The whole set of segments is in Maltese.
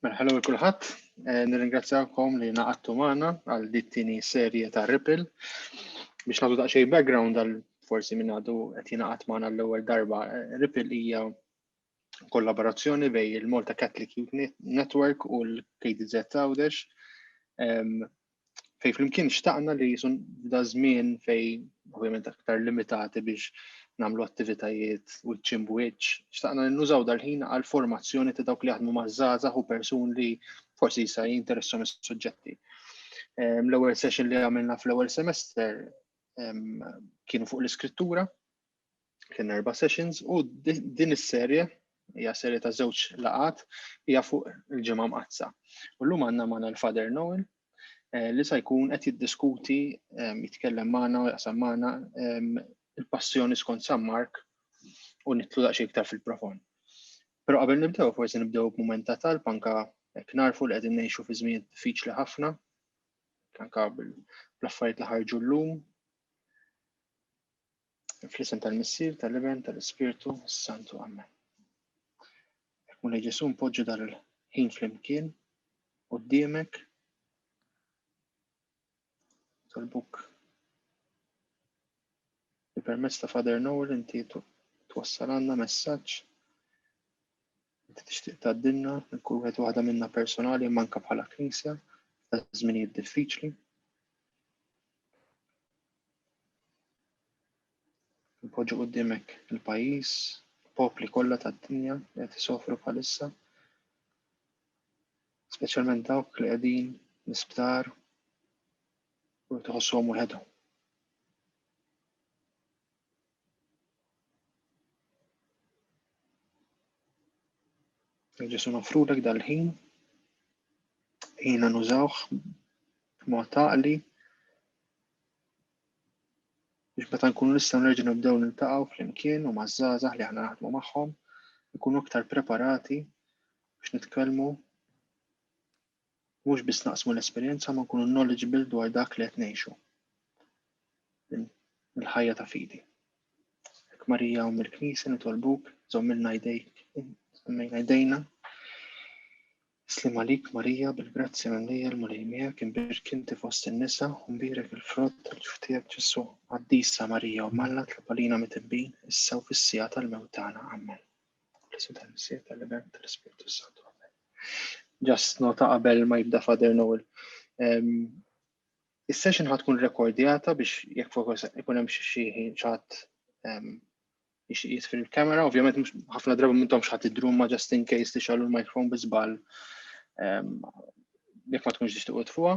Mela, hello kulħadd, eh, nirringrazzjakom li naqattu magħna għal dittini serje ta' Ripple. Biex nagħtu daqsxejn background għal forsi minn għadu qed jingħaqad magħna l-ewwel darba. Eh, Ripple hija kollaborazzjoni bej il-Malta Catholic Youth Network u l-KDZ Għawdex fej flimkien xtaqna li jisun da żmien fej ovvjament aktar limitati biex namlu attivitajiet u ċim wiċ, xtaqna li nużaw dal-ħin għal formazzjoni ta' dawk li jaħdmu mażżaza u persun li forsi jisa jinteressom is-suġġetti. L-ewwel session li għamilna fl-ewwel semester kienu fuq l-iskrittura, Kien erba' sessions u din is-serje hija serje ta' żewġ laqat hija fuq il-ġimgħa mqaddsa. U llum għandna magħna l-Father Noel eh, li sa jkun qed jiddiskuti eh, jitkellem magħna u jaqsam magħna eh, il-passjoni skont San Mark u nitlu daqsxejn iktar fil-profond. Però qabel nibdew forsi nibdew b'mument ta' talb anka hekk narfu li qegħdin ngħixu fi żmien diffiċli ħafna, anka bl-affarijiet li ħarġu llum Fl-isem tal-Missier, tal-Iben, tal-Ispirtu, Santu, Amen. Muna Ġesu npoġġu dan il-ħin fl-imkien u d-diemek tal-buk li permezz ta' Father Noel inti twassal għandna messaġġ Inti tixtieq tgħaddilna lil kull wieħed waħda minna personali imma anke bħala Knisja ta' żminijiet diffiċli. Npoġġu qudiemek il-pajjiż, popli kollha tad-dinja li qed isofru bħalissa, speċjalment dawk li qegħdin l-isptar u tħossuhom waħedhom. Ġesu nofrulek dal-ħin, ħina nużawh b'mod taqli biex meta nkunu nistgħu nerġgħu nibdew niltaqgħu flimkien u maż-żgħażagħ li aħna naħdmu magħhom, ikunu aktar preparati biex nitkellmu mhux biss naqsmu l-esperjenza ma nkunu knowledgeable dwar dak li qed ngħixu. Il-ħajja ta' fidi. Ek Marija u mill-Knisja nitolbuk żommilna jdejk, żommilna jdejna. Slim għalik Marija bil-grazzja mimlija l-Mulej miegħek imbirk inti fost in-nisa u mbirek il-frott tal-ġuftiegħek Ġesu. Qaddisa Marija u Malla tlabalina mitibbin issa u fis-sija tal-mewt tagħna. Amen. L-isem tal-Missier tal-Iben tal-Ispirtu Santu. Amen. Just nota qabel ma jibda Father Noel. Is-session ħad tkun rekordjata biex jekk fokus ikun hemm xi ħin ċat jitfir il-kamera, ovvjament mhux ħafna drabi minnhom x'ħadd idrum ma just in case tixgħalu l-microphone bi żball jekk ma tkunx tixtiequ tfuha.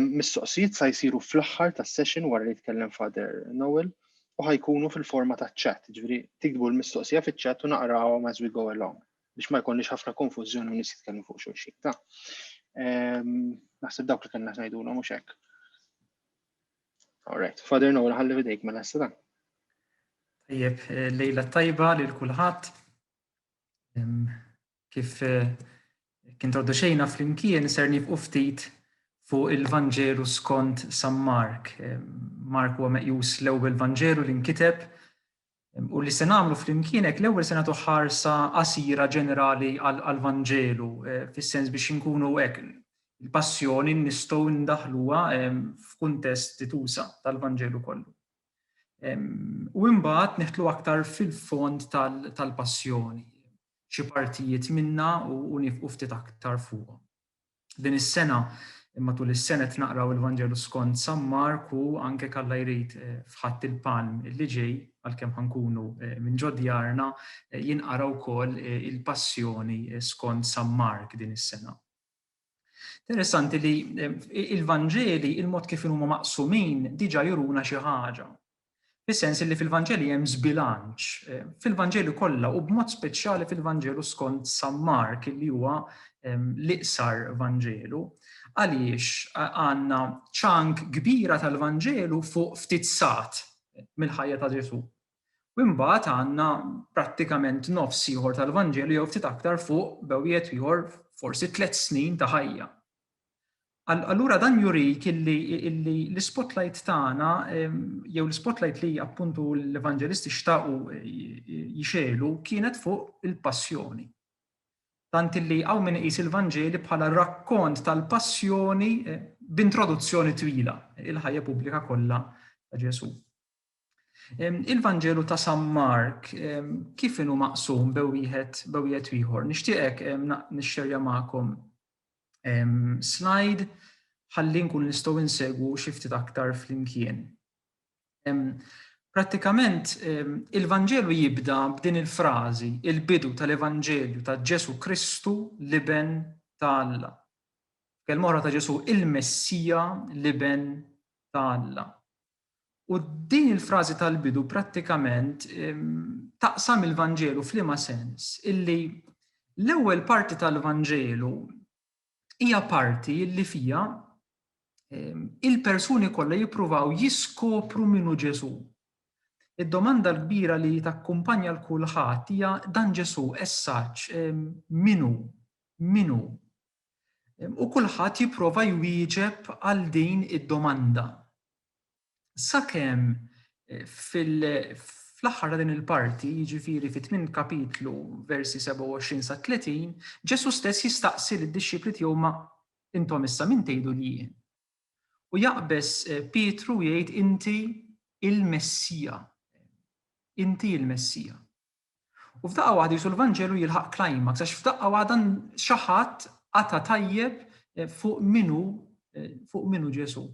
Mistoqsijiet sa jsiru fl-aħħar tas-session wara li jitkellem Father Noel u ħajkunu fil-forma ta' chat, ġifieri tikbu l-mistoqsija fiċ-chat u naqrawhom as we go along. biex ma jkollniex ħafna konfużjoni u nies jitkellmu fuq xulxin. Ta' ehm, naħseb dawk li kellna ngħidulhom mhux hekk. Alright, Father Noel ħalli videjk ma mela nassa dan. Tajjeb, eh, lejla tajba lil kulħadd. Ehm, kif eh, kien traduċejna flimkien ser nibqu ftit fuq il-Vanġelu skont San Mark. Mark huwa meqjus l-ewwel Vanġelu li nkiteb U li se nagħmlu flimkien hekk l-ewwel se nagħtu ħarsa qasira ġenerali għall-Vanġelu eh, fis-sens biex inkunu hekk il-passjoni nistgħu ndaħluha f'kuntest titusa tal-Vanġelu kollu. U imbagħad neħtlu aktar fil-fond tal-passjoni, xi partijiet minna u nifqu ftit aktar fuqhom. Din is-sena, matul is-sena qed naqraw il-Vanġelu skont San Mark u anke jekk Alla jrid f'Ħadd il-Palm li ġej, għalkemm ħa nkunu minn ġo djarna, jinqara wkoll il-Passjoni skont San Mark din is-sena. Interessanti li il-Vanġeli, il-mod kif inhuma maqsumin diġà juruna xi ħaġa. Fis-sens illi fil-Vanġeli hemm żbilanċ, fil-Vanġeli kollha u b'mod speċjali fil-Vanġelu skont San Mark illi huwa l-iqsar Vanġelu. Għaliex għandna ċank kbira tal-Vanġelu fuq ftit sat mill-ħajja ta' Ġesù. U imbagħad għandna prattikament nofs ieħor tal-Vanġelu jew ftit aktar fuq bewwiet ieħor forsi tliet snin ta' ħajja. Allura dan jurik illi l-spotlight tagħna jew l-spotlight li appuntu l-evanġelisti xtaqu jixelu kienet fuq il-passjoni. Tant illi hawn min iqis il-Vanġeli bħala rakkont tal-passjoni eh, b'introduzzjoni twila il-ħajja pubblika kollha ta' Ġesù. Il-Vanġelu ta' San Mark kif inhu maqsum bewieħed bewieħed ieħor. Nixtieqek nixxerja magħkom slide ħalli nkun nistgħu insegwu xi ftit aktar flimkien. Prattikament il-Vanġelu jibda b'din il-frażi, il-bidu tal-Evanġelju ta' Ġesu Kristu l-Iben ta' Alla. Kelma oħra ta' Ġesu il-Messija l-Iben ta' Alla. U din il-frażi tal-bidu prattikament taqsam il-Vanġelu f'liema sens? Illi l-ewwel parti tal-Vanġelu hija parti illi fiha il-persuni kollha jippruvaw jiskopru min hu Ġesù. Id-domanda l-kbira li takkumpanja l kulħadd hija dan Ġesù essaċ min hu? Min hu? U kulħadd jipprova jwieġeb għal din id-domanda. Sakemm fl-aħħar ta' din il-parti, jiġifieri fit-tmien kapitlu, versi 27 sa 30, Ġesù stess jistaqsi lid-dixxipli tiegħu ma intom issa min tgħidu li jien? U jaqbeż Pietru u jgħid inti il-Messija. Inti il-Messija. U f'daqqa waħda jisu l-Vanġelu jilħaq climax, għax f'daqqa waħda xi ħadd qata' tajjeb eh, fuq minu eh, fuq minu Ġesu.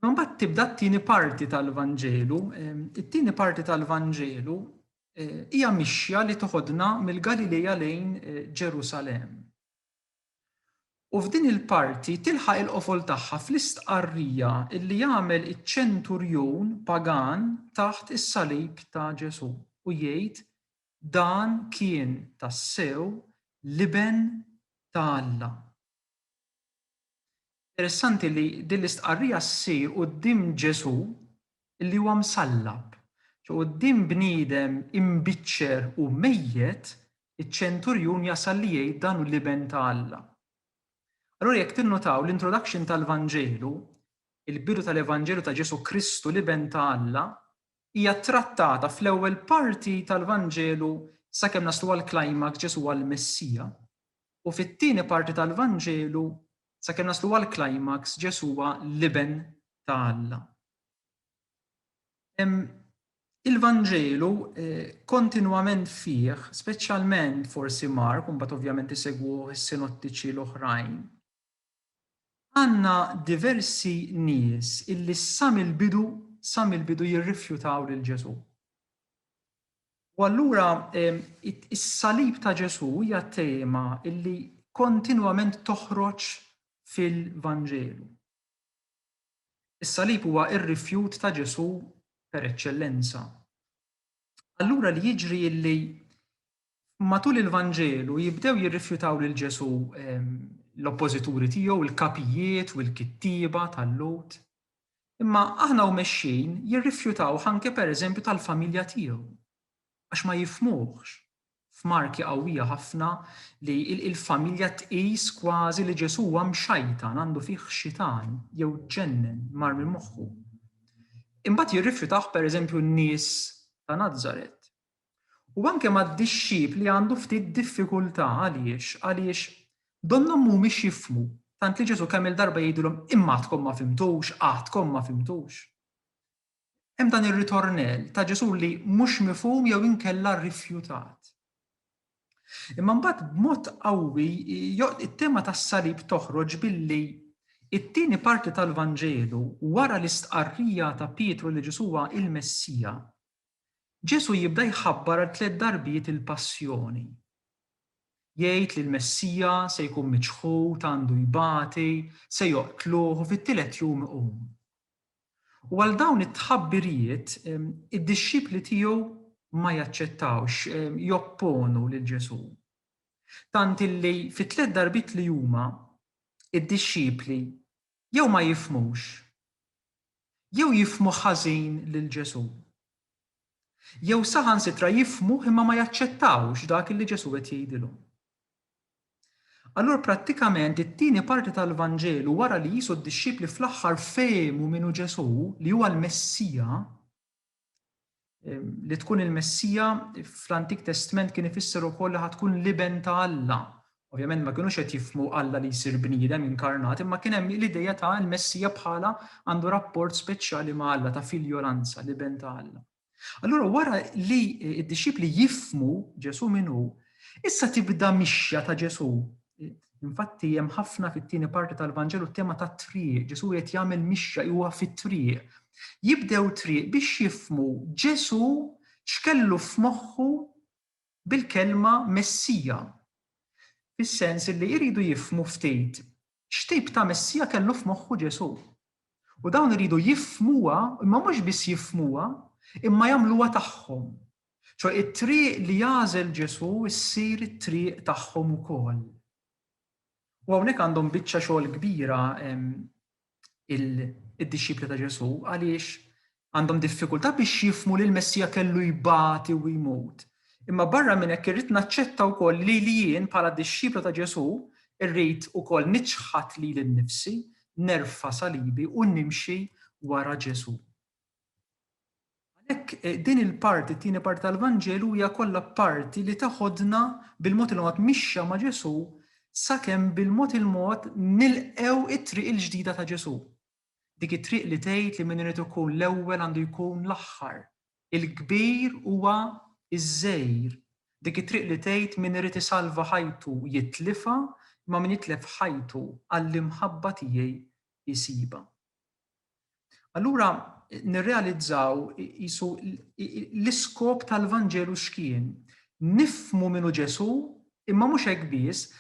Ma mbagħad tibda t-tieni parti tal-Vanġelu, eh, it-tieni parti tal-Vanġelu hija mixja li toħodna mill-Galilea lejn Ġerusalem. U f'din il-parti tilħaq il-qofol tagħha fl-istqarrija li jagħmel iċ-ċenturjun pagan taħt is-salib ta' Ġesù u jgħid, Dan kien tassew l-Iben ta' Alla. Interessanti li din l-istqarrija ssir quddiem Ġesù li huwa msallab, quddiem bniedem imbiċċer u mejjet Iċ-ċenturjun jasal li jgħid dan hu l-Iben ta' Alla. Allura jekk tinnutaw l-introduction tal-Vanġelu, il-bidu tal-Evanġelju ta' Ġesù Kristu l-Iben ta' Alla, hija ttrattata fl-ewwel parti tal-Vanġelu sakemm naslu għall-climax Ġesù huwa l-Messija, u fit-tieni parti tal-Vanġelu sakemm naslu għall-climax Ġesù huwa l-Iben ta' Alla. Il-Vanġelu kontinwament fih, speċjalment forsi Mark, u mbagħad ovvjament isegwuh is-sinottiċi l-oħrajn, għandna diversi nies illi sa mill-bidu, sa mill-bidu jirrifjutaw lil Ġesù. U allura is-salib ta' Ġesù hija tema illi kontinwament toħroġ fil-Vanġelu. Is-salib huwa r-rifjut ta' Ġesù per eċċellenza. Allura li jiġri illi matul il-Vanġelu jibdew jirrifjutaw lil Ġesù ehm, l-oppożituri tiegħu, il-kapijiet u l-kittieba tal-lut. Imma aħna u mexxin jirrifjutaw ħanke per eżempju tal-familja tiegħu, għax ma jifmuħx, f'marki qawwija ħafna li l-familja tqis kważi li Ġesù huwa mxajtan, għandu fih xitan, jew ġennen, mar minn moħħu. Imbagħad jirrifjutah pereżempju n-nies ta' Nazaret. U anke mad-dixxipli għandu ftit diffikultà għaliex għaliex donnhom mhumiex jifmu tant li Ġesù kemm il-darba jgħidilhom imma għadkom ma fimtux, għadkom ma fimtux. Hemm dan ir-ritornell ta' Ġesù li mhux mifhum jew inkella rifjutat. Imma mbagħad b'mod qawwi it-tema tas-salib toħroġ billi it-tieni parti tal-Vanġelu wara l-istqarrija ta' Pietru li Ġesù huwa l-Messija, Ġesù jibda jħabbar għal tliet darbiet il-passjoni. Jgħid li l-Messija se jkun miċħud, għandu jbati, se joqtluh u fit-tielet jum iqum. U għal dawn it-tħabbirijiet id-dixxipli tiegħu ma jaċċettawx, jopponu lil Ġesù. Tant illi fit-tliet darbiet li huma id-dixxipli jew ma jifmux, jew jifmu ħażin lil Ġesù. Jew saħansitra jifhmuh imma ma jaċċettawx dak illi Ġesù qed jgħidilhom. Allura prattikament it-tieni parti tal-Vanġelu wara li qisu d-dixxipli fl-aħħar fehmu min hu Ġesù li huwa l-Messija, li tkun il-Messija fl-Antik Testment kien ifisser ukoll li ħad tkun l-Iben ta' Alla Ovvjament ma kinux qed jifhmu Alla li jsir bniedem inkarnat imma kien hemm l-idea ta' l-Messija bħala għandu rapport speċjali ma' Alla ta' filjolanza, l-Iben ta' Alla. Allura wara li d-dixxipli jifhmu Ġesù min hu, issa tibda mixja ta' Ġesù. Infatti hemm ħafna fit-tieni parti tal-Vanġelu t-tema tat-triq, Ġesù qed jagħmel mixja huwa fit-triq. Jibdew triq biex jifhmu Ġesù x'kellu f'moħħu bil-kelma Messija, fis-sens illi jridu jifhmu ftit x'tip ta' Messija kellu f'moħħu Ġesù. U dawn iridu jifhmuha, imma mhux biss jifhmuha, imma jagħmluha tagħhom. Ċoe it-triq li jagħżel Ġesù ssir it-triq tagħhom ukoll. U hawnhekk għandhom biċċa xogħol kbira id-dixxipli ta' Ġesu għaliex għandhom diffikultà biex jifmu li l-Messija kellu jbati u jmut. Imma barra minn hekk irrid naċċetta wkoll li li jien bħala dixxiplu ta' Ġesu irrid ukoll niċħat lili nnifsi, nerfa' salibi u nimxi wara Ġesu. Għalhekk din il-parti, t-tieni parti tal-Vanġelu hija kollha parti li teħodna bil-mod il-mod mixja ma' Ġesù sakemm bil-mod il-mod nilqgħu t-triq il-ġdida ta' Ġesù. Dik it-triq li tgħid li min irid ikun l-ewwel għandu jkun l-aħħar, il-kbir huwa ż-żgħir. Dik it-triq li tgħid min irid isalva ħajtu jitlifha imma min jitlef ħajtu għall-imħabba tiegħi jsibha. Allura nirrealizzaw jisu l-iskop tal-Vanġelu x'kien. Nifmu minu Ġesu, imma mhux hekk biss,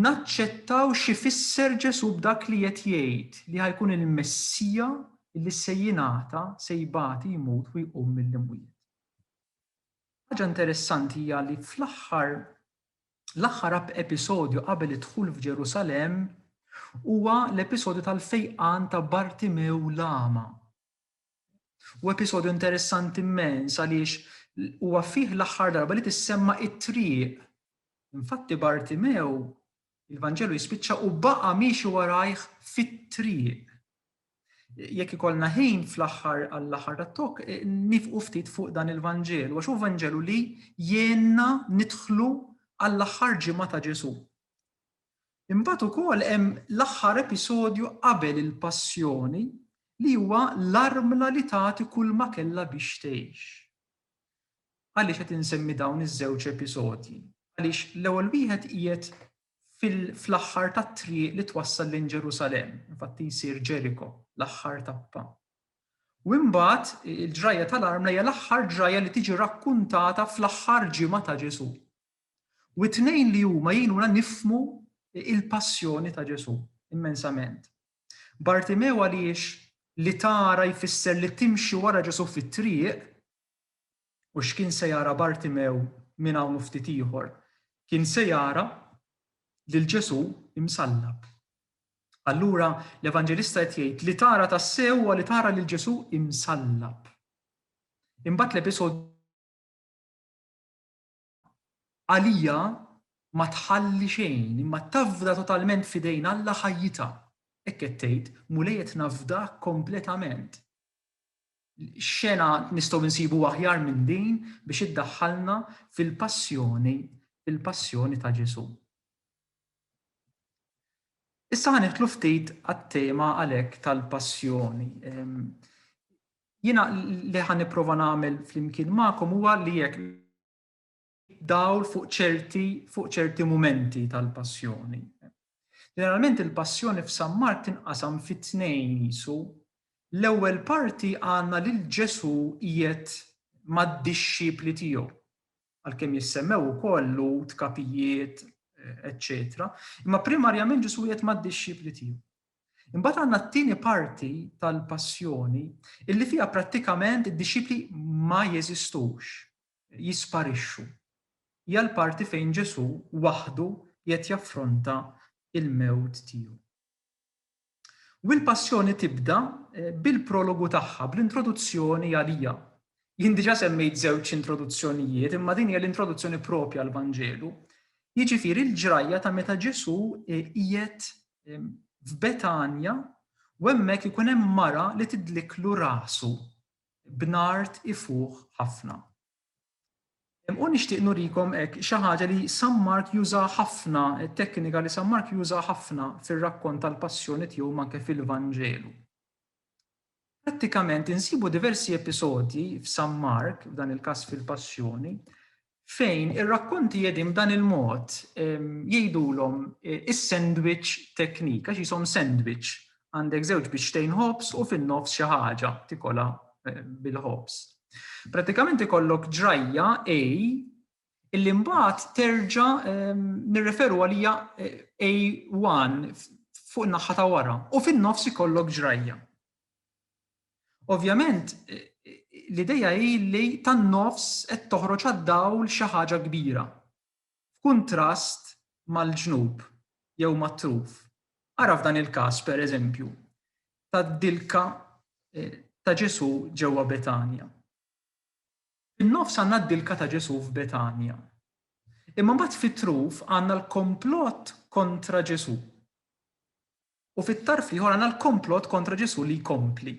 naċċettaw xi fisser Ġesu b'dak li qed jgħid li ħajkun il-Messija li se jingħata, se jbati, jmut u jqum mill-imwiet. Ħaġa interessanti hija li fl-aħħar L-aħħar episodju qabel id-dħul f'Ġerusalemm huwa l-episodju tal-fejqan ta' Bartimew l-Agħma. Huwa episodju interessanti immens għaliex huwa fih l-aħħar darba li tissemma it-triq. Infatti Bartimew il-Vanġelu jispiċċa u baqa' miexi warajh fit-triq. jekk ikollna ħin fl-aħħar għall-aħħar tat-talk, nifqu ftit fuq dan il-Vanġelu, għax hu Vanġelu li jgħinna nidħlu għall-aħħar ġimgħa ta' Ġesù. Imbagħad ukoll hemm l-aħħar episodju qabel il-passjoni li huwa l-armla li tagħti kull ma kellha biex tgħix. Għaliex qed insemmi dawn iż-żewġ episodji? Għaliex l-ewwel wieħed qiegħed fl-aħħar tat-triq li twassal lejn Ġerusalemm, infatti jsir Ġeriko, l-aħħar tappa. U imbagħad il-ġrajja tal-armla hija l-aħħar ġrajja li tiġi rakkuntata fl-aħħar ġimgħa ta' Ġesù. U t-tnejn li huma jgħinuna nifmu il-passjoni ta' Ġesù immensament. Bartimew għaliex li tara jfisser li timxi wara Ġesù fit-triq, U x'kien se jara Bartimew minn hawn u ftit ieħor? Kien se jara lil Ġesù imsallab. Allura, l-Evanġelista qed jgħid li tara tassew huwa li tara lil Ġesù imsallab. Imbagħad l-episodju għalija ma tħalli xejn, imma tafda totalment f'idejn Alla ħajjitha. Hekk qed tgħid, Mulej qed nafdak kompletament. X'xena nistgħu nsibu aħjar minn din biex iddaħħalna fil-passjoni, fil-passjoni ta' Ġesù. Issa ħa ftit għat-tema għalhekk tal-passjoni. Ehm, Jiena li ħan nipprova nagħmel flimkien magħkom huwa li jekk dawl fuq ċerti fuq ċerti mumenti tal-passjoni. Ġeneralment il-passjoni f'San Mark tinqasam fi tnejn jisu. L-ewwel parti għandna lil Ġesu qiegħed mad-dixxipli tiegħu. għalkemm jissemmew ukoll lut, kapijiet, eċċetera, imma primarjament Ġesu qiegħed mad-dixxipli tiegħu. Imbagħad għandna t-tieni parti tal-passjoni illi fiha prattikament id-dixxipli ma jeżistux, jisparixxu. Hija l-parti fejn Ġesu waħdu qiegħed jaffronta il-mewt tiegħu. U l-Passjoni tibda bil-prologu tagħha, bl-introduzzjoni għalija. Jien diġà semmejt żewġ introduzzjonijiet, imma din hija l-introduzzjoni proprja għall-Vanġelu, jiġifieri l-ġrajja ta' meta Ġesù qiegħed f'Betanja u hemmhekk ikun hemm mara li tidlikklu rasu b'nard ifuħ ħafna. U nixtieq nurikom hekk xi ħaġa li San Mark juża ħafna, teknika li San Mark juża ħafna fir-rakkont tal-Passjoni tiegħu ma anke fil-Vanġelu. Prattikament insibu diversi episodji f'San Mark, f'dan il-każ fil-Passjoni, fejn ir-rakkonti qegħdin b'dan il-mod jgħidulhom is-sandwich teknika, x'ishom sandwich Għandek żewġ biċċtejn ħobż u fin-nofs xi ħaġa tikola bil-ħobż. Pratikament ikollok ġrajja A illi mbagħad terġa' ehm, nirreferu għalija eh, A1 fuq in-naħħa ta' wara u fin-nofs ikollok ġrajja. Ovvjament, eh, l-ideja hi li tan-nofs qed toħroġ għad-dawl xi ħaġa kbira. f'kuntrast mal-ġnub jew mat-truf, ara f'dan il-każ, per eżempju, tad-dilka ta' Ġesù ġewwa Betanja. Fin-nofs għandna d-dilka ta' Ġesù f'Betanja. Imma mbagħad fit-truf għandna l-komplott kontra Ġesù. U fit-tarf l-ieħor għandna l-komplott kontra Ġesù li jkompli.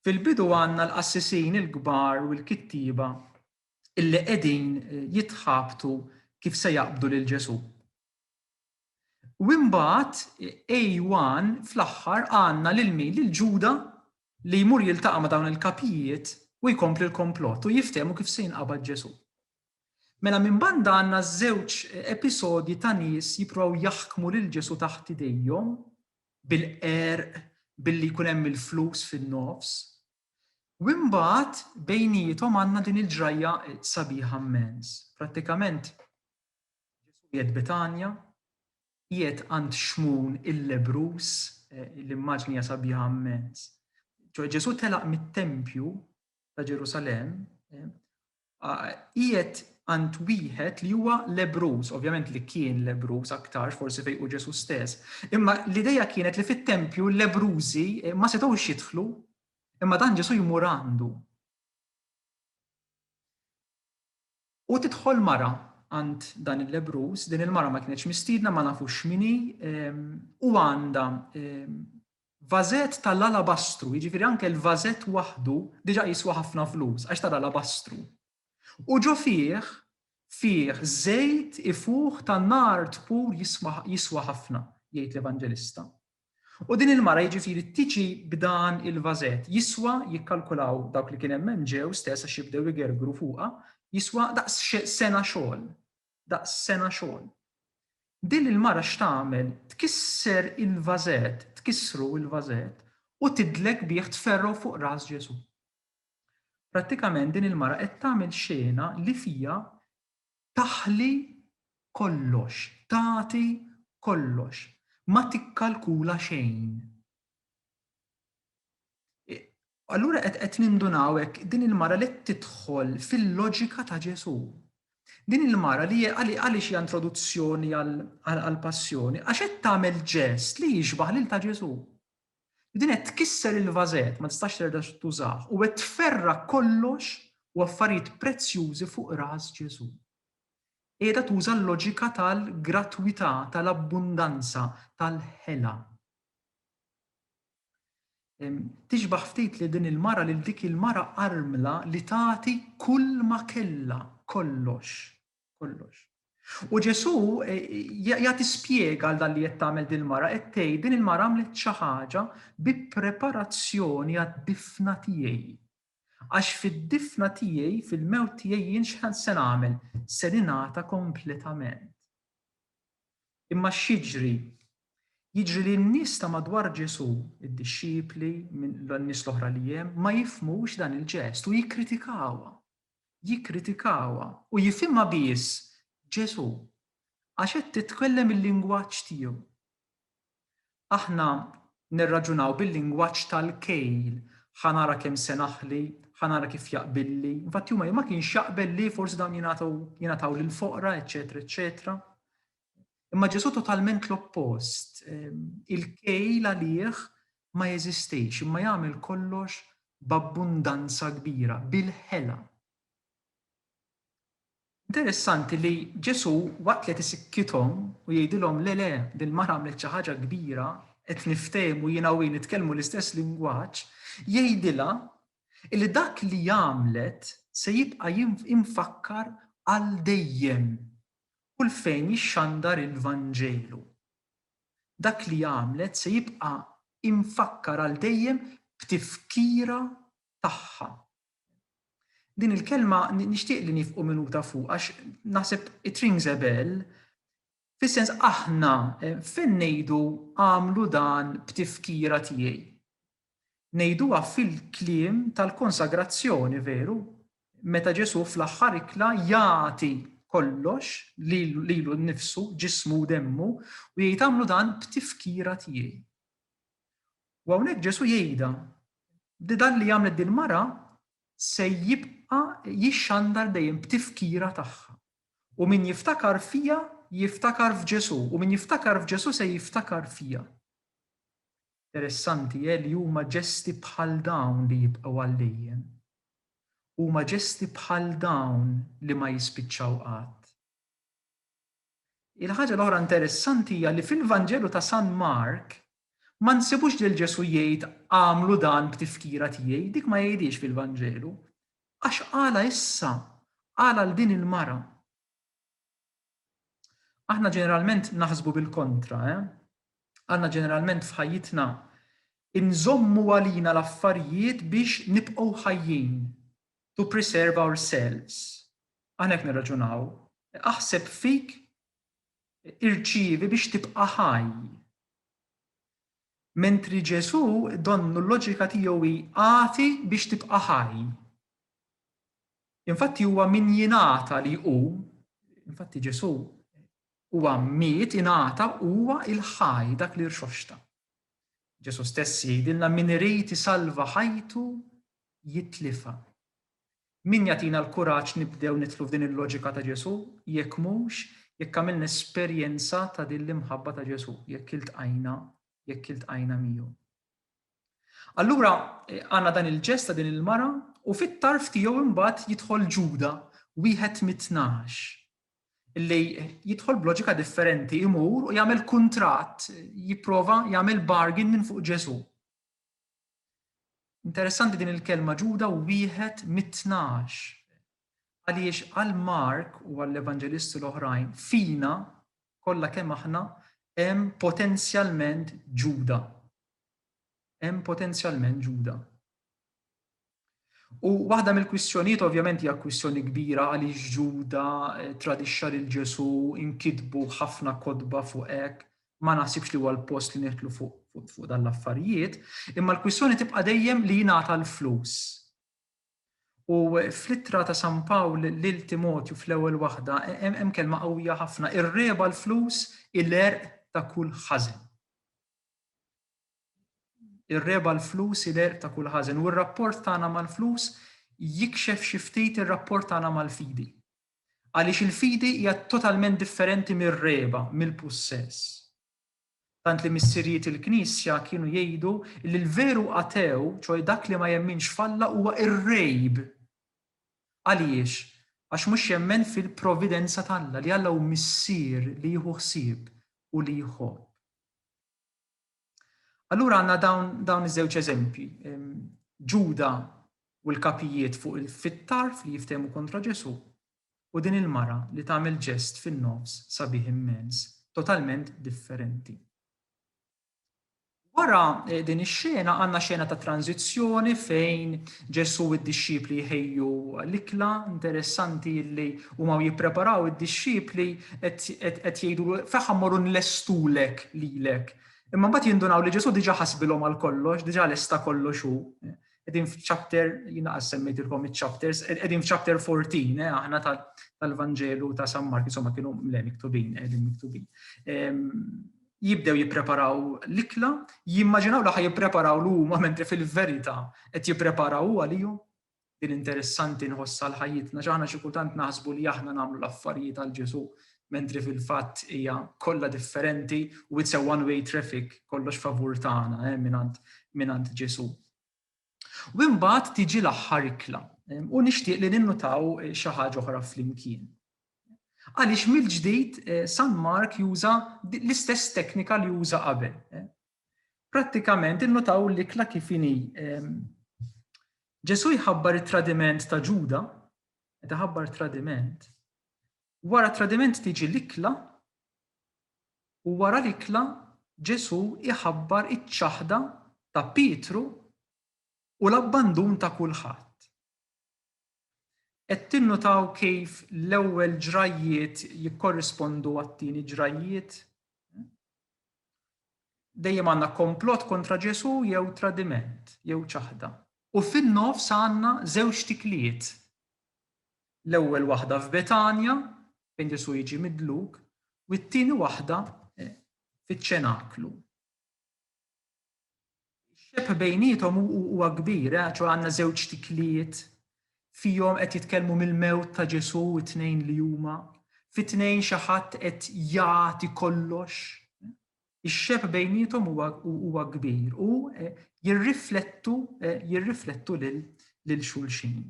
Fil-bidu għandna l-qassisin il-kbar u l-kittieba illi qegħdin jitħabtu kif se jaqbdu lil Ġesù. U imbagħad A1 fl-aħħar għandna lil min? Lil Ġuda li jmur jiltaqa' ma' dawn il-kapijiet u jkompli l-komplott u jiftehmu kif se jinqabad Ġesù. Mela minn banda għandna żewġ episodji ta' nies jippruvaw jaħkmu lil Ġesu taħt idejhom bil-qerq billi jkun hemm il-flus fin-nofs, U imbagħad bejniethom għandna din il-ġrajja sabiħa mmens. Prattikament Ġesù qiegħed Betanja, qiegħed għand Xmun il-lebruż, l-immaġni hija sabiħa mmens. Ġesù telaq mit-tempju ta' Ġerusalemm qiegħed għand wieħed li huwa lebruż, ovvjament li kien lebruż aktarx forsi fejn hu Ġesù stess, imma l-idea kienet li fit-tempju l-lebrużi eh, ma setgħux jidħlu, imma dan Ġesù jmur għandu. U tidħol mara għand dan il-lebruż, din il-mara ma kienx mistiedna, ma nafux x'mini, ehm, u għandha ehm, Vażett ta' l-alabastru, jiġifieri anke l-vażett waħdu diġà jiswa ħafna flus għax ta' l-alabastru. U ġo fih, fih żejt ifuħ ta' nard pur jiswa ħafna, jgħid l-Evanġelista. U din il-mara, jiġifieri, tiġi b'dan il-vażett, jiswa, jikkalkulaw dawk li kien hemm hemm ġew stess għax jibdew igergru fuqha, jiswa daqs sena xogħol. daqs sena xogħol. Din il-mara x'tagħmel, tkisser il-vażett, tkissru il-vażett, u tidlek bih tferrgħu fuq ras Ġesù. Prattikament din il-mara qed tagħmel xena li fiha taħli kollox, tagħti kollox, ma tikkalkula xejn. Allura qed qed nindunaw hekk din il-mara li qed tidħol fil-loġika ta' Ġesù. Din il-mara li għaliex hija introduzzjoni għall-passjoni, għax qed tagħmel ġest li jixbah lil ta' Ġesù. Din qed tkisser il-vażett, ma tistax terġa' tużah, u qed tferra kollox u affarijiet prezzjużi fuq ras Ġesù. Qiegħda tuża l-loġika tal-gratwità, tal-abbundanza, tal-ħela. Tixbah ftit lil din il-mara lil dik il-mara armla li tagħti kull ma kellha, kollox, kollox. U Ġesù e, jagħti spjega għal dan li qed tagħmel din il-mara, qed tgħid din il-mara għamlet xi ħaġa bi preparazzjoni għad-difna tiegħi. Għax fid-difna tiegħi, fil-mewt tiegħi jien x'ħan se nagħmel? Se ningħata kompletament. Imma x'jiġri? Jiġri li n-nies ta' madwar Ġesù, id-dixxipli, n-nies l-oħra li hemm, ma jifhmux dan il-ġest u jikkritikawha. Jikkritikawha u jifhimha biss Ġesù għax qed titkellem il-lingwaġġ tiegħu. Aħna nirraġunaw bil-lingwaġġ tal-kejl, ħa nara kemm se naħli, ħa nara kif jaqbilli. Infatti huma ma kienx jaqbel li forsi dawn jingħataw jingħataw lill-foqra, eċċetera, eċċetera. Imma Ġesù totalment l-oppost. Ehm, il-kejl għalih ma jeżistix, imma jagħmel kollox b'abbundanza kbira, bil-ħela. Interessanti li Ġesù waqt li qed isikkithom u jgħidilhom le le din il-mara għamlet xi ħaġa kbira, qed niftehmu jiena u hi nitkellmu l-istess lingwaġġ, jgħidilha li dak li għamlet se jibqa' imfakkar għal dejjem kull fejn jixxandar il-Vanġelu. Dak li għamlet se jibqa' imfakkar għal dejjem b'tifkira tagħha. Din il-kelma nixtieq li nifqu minuta fuq għax naħseb it rings a bell fis-sens aħna eh, fejn ngħidu għamlu dan b'tifkira tiegħi. Ngħiduha fil-kliem tal-konsagrazzjoni veru meta Ġesu fl-aħħar ikla jagħti kollox lilu nnifsu ġismu demmu u jgħid għamlu dan b'tifkira tiegħi. U hawnhekk Ġesù jgħidha li dan li għamlet din mara se jibqa' jixxandar dejjem b'tifkira tagħha. U min jiftakar fija jiftakar f'Ġesù, u min jiftakar f'Ġesù se jiftakar fija. Interessanti eh li huma ġesti bħal dawn li jibqgħu għal dejjem. Huma ġesti bħal dawn li ma jispiċċaw qatt. Il-ħaġa l-oħra interessanti hija li fil-Vanġelu ta' San Mark ma nsibux lil Ġesù jgħid agħmlu dan b'tifkira tiegħi, dik ma jgħidhiex fil-Vanġelu. Għax qalha issa, qalha lil din il-mara. Aħna ġeneralment naħsbu bil-kontra, eh? Aħna ġeneralment f'ħajjitna inżommu għalina l-affarijiet biex nibqgħu ħajjin, to preserve ourselves. Aħna jekk nirraġunaw, aħseb fik irċievi biex tibqa' ħaj. Mentri Ġesù donnu l-loġika tiegħu hi agħti biex tibqa' ħaj. Infatti huwa min jingħata li hu, infatti Ġesù huwa miet ingħata huwa il-ħaj dak li rxoxta. Ġesù stess jgħidilna min irid isalva ħajtu jitlifha. Min jagħtina l-kuraġġ nibdew nidħlu f'din il-loġika ta' Ġesù jekk mhux jekk għamilna esperjenza ta' din l-imħabba ta' Ġesù, jekk iltqajna, jekk iltqajna miegħu. Allura għandna dan il-ġest ta' din il-mara u fit-tarf tiegħu imbagħad jidħol Ġuda, wieħed mit-tnax. li jidħol b'loġika differenti imur u jagħmel kuntratt, jipprova jagħmel bargain minn fuq Ġesu. Interessanti din il-kelma ġuda u wieħed mit-tnax. Għaliex għal Mark u għall evanġelisti l-oħrajn fina kollha kemm aħna hemm potenzjalment ġuda. Hemm potenzjalment ġuda. U waħda mill-kwistjonijiet ovvjament hija kwistjoni kbira għaliex Ġuda eh, tradixxa lil Ġesu, inkitbu ħafna kotba fuq hekk, ma naħsibx li huwa l-post li neħtlu fuq fuq fu dan l-affarijiet, imma l-kwistjoni tibqa' dejjem li jingħata l-flus. U fl-ittra ta' San Pawl lil Timotju fl-ewwel waħda hemm kelma qawwija ħafna, ir-reba l-flus il-erq ta' kull ħażin. Ir-regħba l-flus hi l-għerq ta' kull ħażen, u r-rapport tagħna mal-flus jikxef xi ftit ir-rapport tagħna mal-fidi. Għaliex il-fidi hija totalment differenti mir-regħba, mill-pussess. Tant li missirijiet il-Knisja kienu jgħidu li l-veru atew, ċoe dak li ma jemminx f'Alla huwa irrejb. Għaliex? Għax mhux jemmen fil-providenza t'Alla, li Alla hu Missier li jieħu ħsieb u li jħobb. Allura għandna dawn dawn iż-żewġ eżempji. Ġuda u l-kapijiet fuq il-fittar li jiftehmu kontra Ġesu u din il-mara li tagħmel ġest fin-nofs sabiħ immens, totalment differenti. Wara eh, din ix-xena għandna xena ta' tranzizzjoni fejn Ġesu u d-dixxipli jħejju l-ikla interessanti li Huma u jippreparaw id-dixxipli qed jgħidulu f'aħħa mmorru nlestulek lilek. Imma mbagħad jindunaw li Ġesù diġà ħasbilhom għal kollox, diġà lesta kollox hu. Qegħdin f'chapter, jiena qas semmejtilkom iċ-chapters, qegħdin f'chapter 14 eh, aħna tal-Vanġelu ta' San Mark, insomma kienu le miktubin, qegħdin miktubin. Ehm, jibdew jippreparaw l-ikla, jimmaġinaw li ħaj jippreparaw l-huma mentri fil-verità qed jippreparaw għalihom Din interessanti nħoss għal ħajjitna x'aħna xi kultant naħsbu li aħna nagħmlu l-affarijiet għal Ġesù mentri fil-fatt hija kollha differenti u it's a one way traffic kollox favur tagħna eh, mingħand mingħand Ġesù. U imbagħad tiġi l-aħħar ikla u nixtieq li ninnutaw eh, xi ħaġa oħra flimkien. Għaliex mill-ġdid eh, San Mark juża l-istess teknika li juża qabel. Eh. Prattikament innutaw l-ikla kif inhi. Ehm, Ġesu jħabbar it-tradiment ta' Ġuda, meta ħabbar tradiment, wara tradiment tiġi l-ikla u wara l-ikla Ġesu jħabbar iċ-ċaħda ta' Pietru u l-abbandun ta' kulħadd. Qed tinnutaw kif l-ewwel ġrajjiet jikkorrispondu għat-tieni ġrajjiet? Dejjem għandna komplott kontra Ġesù jew tradiment, jew ċaħda. U fin-nofs għandna żewġ tikliet. L-ewwel waħda f'Betanja, fejn Ġesù jiġi midluk, u t-tieni waħda fiċ-ċenaklu. Ix-xebh bejniethom huwa kbir, ċoe għandna żewġ tikliet fihom qed jitkellmu mill-mewt ta' Ġesù t-tnejn li huma. Fit-tnejn xi ħadd qed jagħti kollox. Ix-xebh bejniethom huwa kbir u jirriflettu lil xulxin.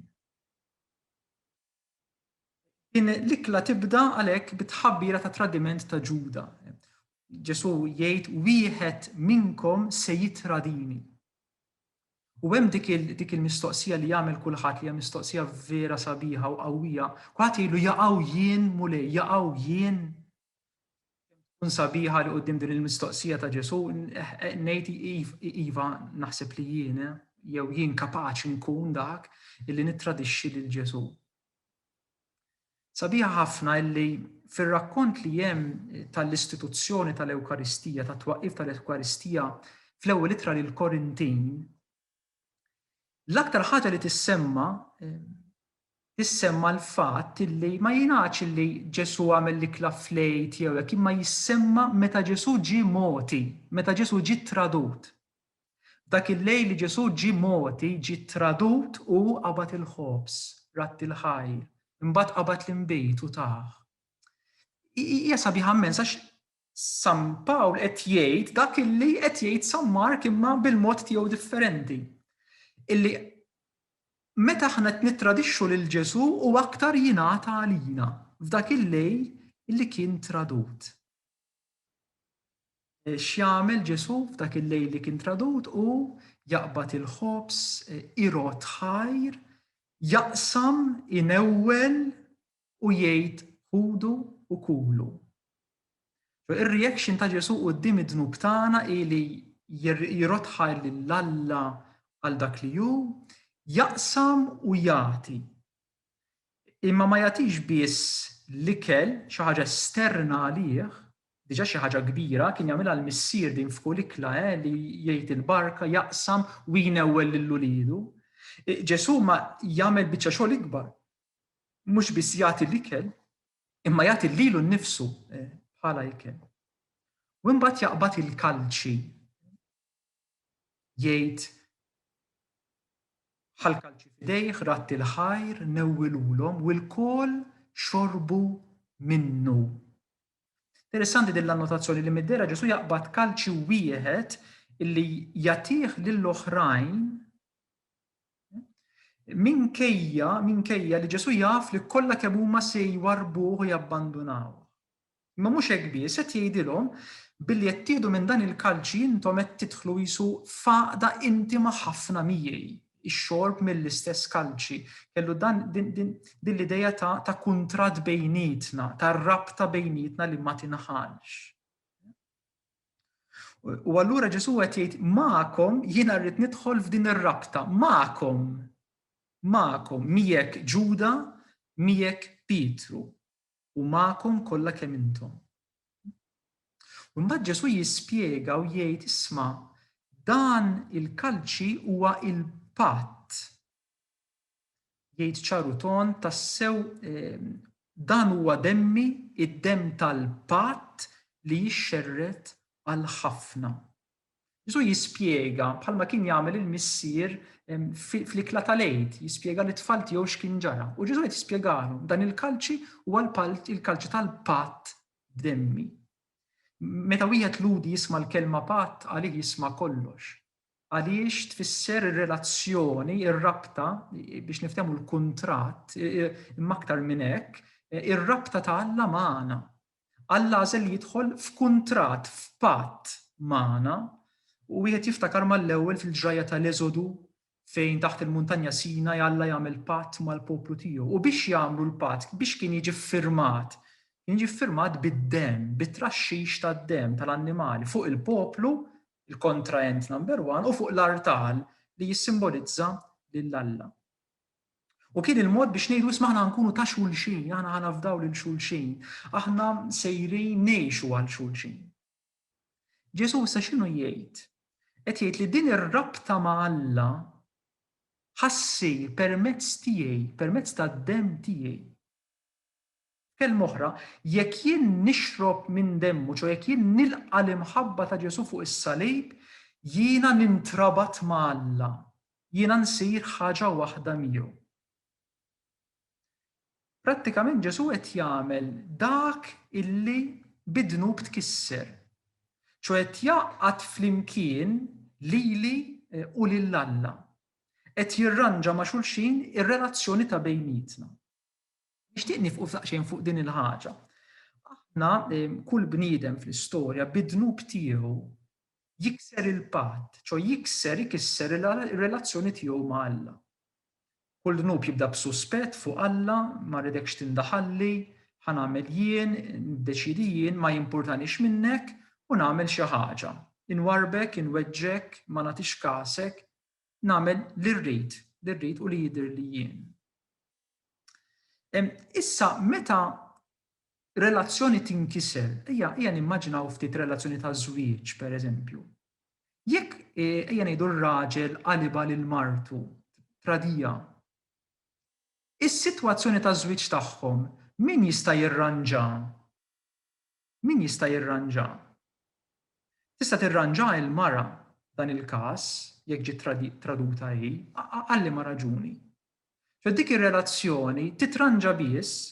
Din l-ikla tibda għalhekk bit-tħabbira ta' tradiment ta' Ġuda. Ġesù jgħid wieħed minnkom se jitradini. U hemm dik il-mistoqsija li jagħmel kulħadd li hija mistoqsija vera sabiħa u qawwija. Kulħadd jgħidlu jaqgħu jien mulej, jaqgħu jien Kemm tkun sabiħa li quddiem din il-mistoqsija ta' Ġesu ngħid iva naħseb li jien jew jien kapaċi nkun dak illi nittradixxi lil Ġesu. Sabiħa ħafna illi fir-rakkont li hemm tal-istituzzjoni tal-Ewkaristija, tat-twaqqif tal-Ewkaristija fl-ewwel ittra lil Korintin, L-aktar ħaġa li tissemma tissemma l-fatt li ma jingħadx li Ġesù għamel l-ikla fl-għid jew hekk imma jissemma meta Ġesù ġie mogħti, meta Ġesù ġie tradut. Dak il-lejl li Ġesù ġie mogħti, ġie tradut u qabad il-ħobż, radd il-ħajr, imbagħad qabad l-inbid u tah. Hija sabiħa mmens għax San Pawl qed jgħid dak illi qed jgħid San Mark imma bil-mod tiegħu differenti. Illi meta aħna qed nittradixxu lil Ġesù u aktar jingħata għalina f'dak il-lejl illi kien tradut. E, x'jagħmel Ġesù f'dak il-lejl li kien tradut u jaqbad il-ħobs, e, irot ħajr, jaqsam, inewwel, u jgħid ħudu u kulu. Ir-reaction ta' Ġesù quddiem id-dnub tagħna hi li jirotħa lil Alla għal dak li hu, jaqsam u jagħti. Imma ma jagħtix biss l-ikel xi ħaġa esterna għalih, diġà xi ħaġa kbira, kien jagħmilha l-missier din f'kull ikla eh, li jgħid il-barka, jaqsam u jinewwel lil ulidu. Ġesù ma jagħmel biċċa xogħol ikbar mhux biss jagħti l-ikel, imma jagħti lilu nnifsu eh, bħala ikel. U imbagħad jaqbad il-kalċi jgħid ħal kalċi f'idejh ratti l-ħajr newwilulhom u l-kol xorbu minnu. Interessanti din l-annotazzjoni li mid-dera Ġesu jaqbad kalċi wieħed illi jatih lill-oħrajn minkejja minkejja li Ġesu jaf li kollha kemm huma se jwarbuh u jabbandunaw. Imma mhux hekk biss qed jgħidilhom billi qed tieħdu minn dan il-kalċi intom qed tidħlu jisu faqda intima ħafna miegħi. ix-xorb mill-istess kalċi. Kellu dan din l-idea ta' ta' kuntratt bejnietna, ta' rabta bejnietna li ma tinħalx. U allura Ġesu qed jgħid magħkom jiena rrid nidħol f'din ir-rabta, magħkom. Magħkom miegħek Ġuda, miegħek Pietru. u magħkom kollha kemm intom. U mbagħad Ġesù jispjega u jgħid isma' dan il-kalċi huwa il-patt. Jgħid ċaru ton tassew ehm, dan huwa demmi id-dem tal-patt li jixxerret għal ħafna. Ġesù jispjega bħalma kien jagħmel il-missier fl-ikla tal-għid, jispjega li tfal tiegħu x'kien ġara. U Ġesù qed jispjegalhom dan il-kalċi huwa l-kalċi tal-patt b'demmi. Meta wieħed ludi jisma' l-kelma patt għalih jisma' kollox. Għaliex tfisser ir-relazzjoni, ir-rabta biex niftehmu l-kuntratt imma aktar minn hekk, ir-rabta ta' Alla magħna. Alla għażel jidħol f'kuntratt, f'patt magħna, u wieħed jiftakar mal-ewwel fil-ġrajja tal-Eżodu fejn taħt il-Muntanja Sinaj Alla jagħmel patt mal-poplu tiegħu. U biex jagħmlu l-patt, biex kien jiġi ffirmat, kien jiġi ffirmat bid-demm, bit-traxxix tad-demm tal-annimali fuq il-poplu, il-kontraent number one, u fuq l-artal li jissimbolizza lil Alla. U kien il-mod biex ngħidu isma' aħna nkunu ta' xulxin, aħna ħa nafdaw lil xulxin, aħna sejrin ngħixu għal xulxin. Ġesù issa x'inhu jgħid? Qed jgħid li din ir-rabta ma' Alla ħassir permezz tiegħi, permezz tad-demm tiegħi. F'kelma oħra, jekk jien nixrob minn demmu, ċoe jekk jien nilqa' l-imħabba ta' Ġesù fuq is-salib, jiena nintrabat ma' Alla, jiena nsir ħaġa waħda miegħu. Prattikament Ġesù qed jagħmel dak illi bid-dnub tkisser, ċoe qed jgħaqqad flimkien lili u lil Alla, qed jirranġa ma' xulxin ir-relazzjoni ta' bejnietna. Nixtieq nifqu saqxejn fuq din il-ħaġa. Aħna kull bniedem fl-istorja bid-dnub tiegħu jikser il-patt, ċo jikser ikisser ir-relazzjoni tiegħu ma' Alla. Kull dnub jibda b'suspett fuq Alla, ma rridekx tindaħalli, ħa nagħmel jien, niddeċiedi jien, ma jimpurtanix minnek u nagħmel xi ħaġa. Inwarrbek, inweġġgħek, ma nagħtix kasek, nagħmel li rrid, li rrid u li jidhirli jien. Issa meta relazzjoni tinkiser, ejja ejja nimmaġinaw ftit relazzjoni ta' żwieġ pereżempju. Jekk e, ejja ngħidu r-raġel qaliba lil martu tradija. Is-sitwazzjoni ta' żwieġ tagħhom min jista' jirranġa? Min jista' jirranġa? Tista' tirranġa il-mara dan il-każ jekk ġiet traduta hi, għalli ma raġuni. Ġo dik ir-relazzjoni titranġa biss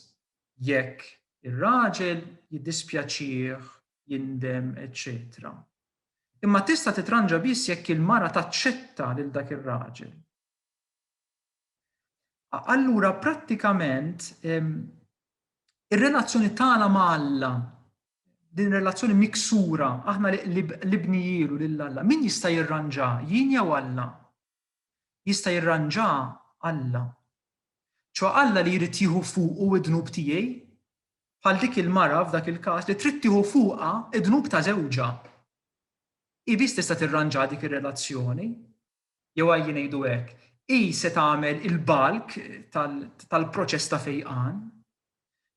jekk ir-raġel jiddispjaċih, jindem, eċċetera Imma tista' titranġa biss jekk il-mara taċċetta lil dak ir-raġel. Allura prattikament ir-relazzjoni tagħna ma' Alla din relazzjoni miksura aħna li bnijielu lil Alla, min jista' jirranġa jien jew Alla? jista' jirranġaha Alla. Ċoe Alla li jrid jieħu fuqu d-dnub tiegħi, bħal dik il-mara f'dak il-każ li trid tieħu fuqha d-dnub ta' żewġha. Hi biss tista' tirranġa dik ir-relazzjoni. Jew għajji ngħidu hekk, hi se tagħmel il-balk tal-proċess ta' fejqan.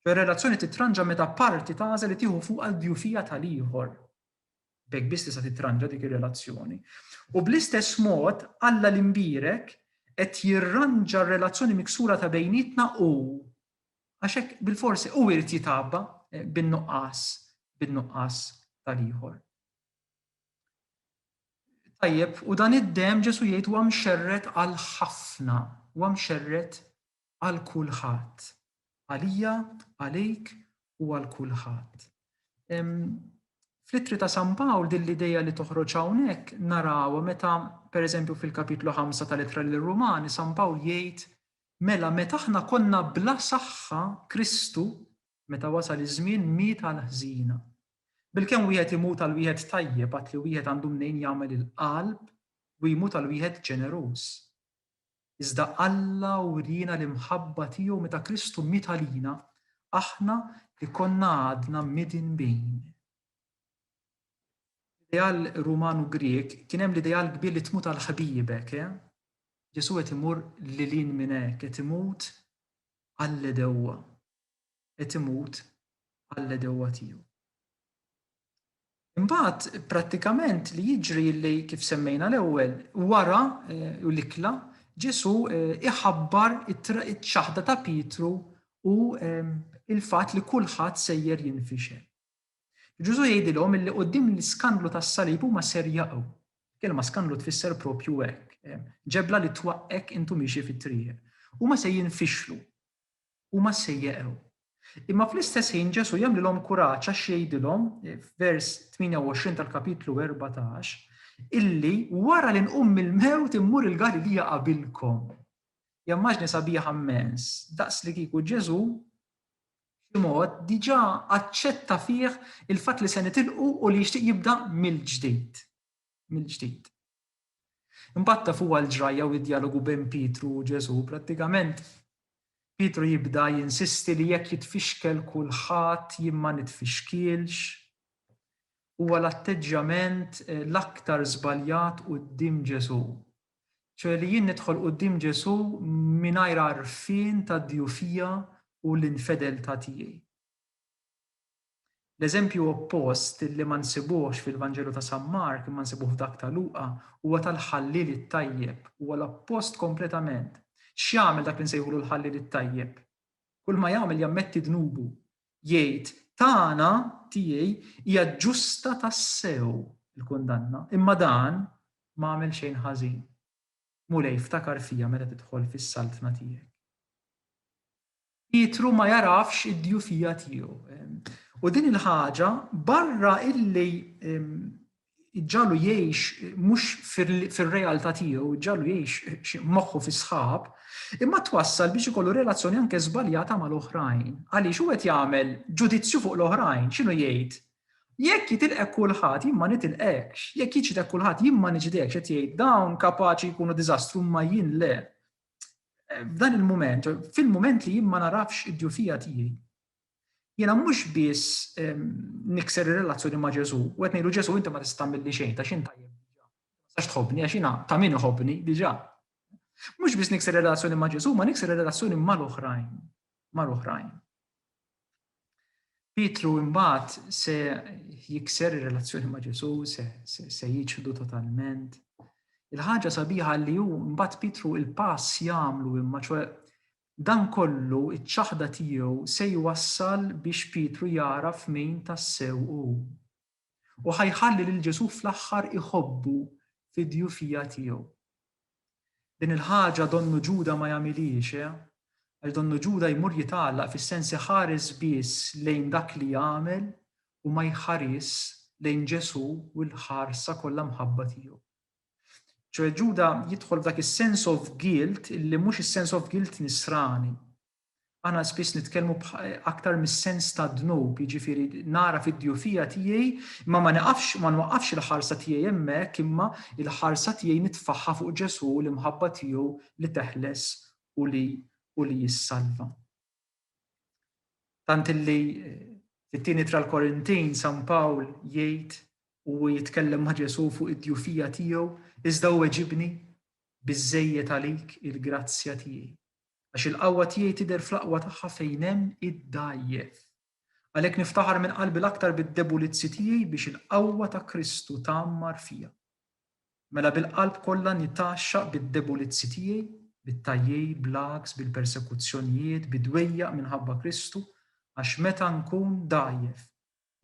Ċoe r-relazzjoni titranġa meta parti tagħżel li tieħu fuqha d-djufija tal-ieħor. B'hekk biss tista' tittranġa dik ir-relazzjoni. U bl-istess mod, Alla l-imbierek qed jirranġa r-relazzjoni miksura ta' bejnietna u. Għax hekk bilfors hu jrid jitgħabba bin-nuqqas, bin-nuqqas tal-ieħor. Tajjeb, u dan id-demm Ġesù jgħid huwa mxerred għal ħafna, huwa mxerred għal kulħadd. Għalija, għalik u għal kulħadd. Fl-Ittri ta' San Pawl din l-idea li toħroġ hawnhekk narawha meta pereżempju fil-Kapitlu 5 tal-Ittra lir-Rumani San Pawl jgħid mela meta aħna konna bla saħħa Kristu meta wasal iż-żmien miet għal ħżina. Bilkemm wieħed imut għal wieħed tajjeb għad li wieħed għandu mnejn jagħmel il-qalb u jmut għal wieħed ġeneruż. iżda Alla wriena l-imħabba tiegħu meta Kristu miet għalina, aħna li konna għadna midin bejn. Fl-ideal Ruman u Grieg kien hemm l-ideal kbir li tmut għal ħbiebek, eh? Ġesu qed imur lilin minn hekk, qed imut għall-edewwa. Qed imut għall-edewwa tiegħu. Imbagħad prattikament li jiġri li kif semmejna l-ewwel, wara l-ikla Ġesù iħabbar iċ-ċaħda ta' Pietru u l-fatt li kulħadd sejjer jinfixel. Ġesù jgħidilhom illi quddiem l-iskandlu tas-salib huma ser jaqgħu. Kelma skandlu tfisser propju hekk, ġebla li twaqqgħek intu miexi fit-triq. Huma se jinfixlu. Huma se jeqgħu. Imma fl-istess ħin Ġesù jagħmlilhom kuraġġ għax jgħidilhom, f'vers 28 tal-kapitlu 14, illi wara li nqum mill-mewt immur il-Galilija qabilkom. Hija immaġni sabiħa mmens, daqs li kieku Ġesù xi mod diġà aċċetta fih il-fatt li se nitilqu u li jixtieq jibda mill-ġdid. Mill-ġdid. Imbagħad taf huwa l-ġrajja u d-djalogu bejn Pietru u Ġesù, prattikament Pietru jibda jinsisti li jekk jitfixkel kulħadd jien ma nitfixkielx. Huwa l-atteġġjament l-aktar żbaljat quddiem Ġesù. Ċoe li jien nidħol quddiem Ġesù mingħajr għarfien tad-djufija u l-infedeltà tiegħi. L-eżempju oppost, li ma nsibuhx fil-Vanġelu ta' San Mark imma nsibuh f'dak ta' Luqa, huwa tal-ħalliel it-tajjeb. Huwa l-oppost kompletament. X'jagħmel dak li nsejħulu l-ħalliel it-tajjeb? Kulma jagħmel jammetti dnubu. Jgħid, Tagħna, tiegħi, hija ġusta tassew il-kundanna, imma dan ma għamel xejn ħażin. Mulej, ftakar fija meta tidħol fis-saltna tiegħek. Pietru ma jagħrafx id-djufija tiegħu. U din il-ħaġa barra illi ġġalu jgħix mhux fir-realtà tiegħu, ġġalu jgħix moħħu fis-sħab, imma twassal biex ikollu relazzjoni anke żbaljata mal-oħrajn. Għaliex hu qed jagħmel ġudizzju fuq l-oħrajn, x'inhu jgħid? Jekk jitilqek kulħadd jien ma nitilqekx, jekk jiġdek kulħadd jien ma niġdekx qed jgħid dawn kapaċi jkunu diżastru imma jien le. f'dan il-moment, fil-moment li jien ma narafx id-djufija tiegħi, jiena mhux biss ehm, nikser ir-relazzjoni ma' Ġesu, u qed ngħidu Ġesu inti ma tista' milli xejn ta' xejn tajjeb. Sax tħobbni għax jiena ta' min iħobbni diġà. Mhux biss nikser ir-relazzjoni ma' Ġesu, ma nikser ir-relazzjoni mal-oħrajn, mal-oħrajn. Pietru imbagħad se jikser ir-relazzjoni ma' Ġesu, se, se, se jiċħdu totalment. Il-ħaġa sabiħa li hu mbagħad Pietru il-pass jagħmlu imma ċoe dan kollu iċ-ċaħda tiegħu se jwassal biex Pietru jagħraf min tassew hu. u ħa jħalli lil Ġesù fl-aħħar iħobbu fid-djufija tiegħu. Din il-ħaġa donnu Ġuda ma jagħmilhiex, eh? Għax donnu Ġuda jmur jitgħallaq fis-sens iħares biss lejn dak li jagħmel u ma jħarisx lejn Ġesù u l-ħarsa kollha mħabba tiegħu. Ċoe Ġuda jidħol f'dak is-sense of guilt illi mhux is-sense of guilt nisrani, Aħna spiss nitkellmu aktar mis-sens tad-dnub, jiġifieri nagħraf id-djufija tiegħi imma ma niqafx ma nwaqqafx il-ħarsa tiegħi hemmhekk imma l-ħarsa tiegħi nitfagħha fuq Ġesù u l-imħabba tiegħu li teħles u li u li jissalva. Tant illi fit-tieni tra l-Korintin San Pawl jgħid u jitkellem ma' Ġesù fuq id-djufija tiegħu iżda u weġibni biżejjed għalik il-grazzja tiegħi. Għax il-qawwa tiegħi tidher fl-aqwa tagħha fejn hemm id-dgħajjef. Għalhekk niftaħar minn qalbi l-aktar bid-debulizzi tiegħi biex il-qawwa ta' Kristu tgħammar fija. Mela bil-qalb kollha nitgħaxxaq bid-debulizzi tiegħi, bit-tajjejr, bl-għaks, bil-persekuzzjonijiet, bid-dwejjaq minħabba Kristu, għax meta nkun dgħajjef,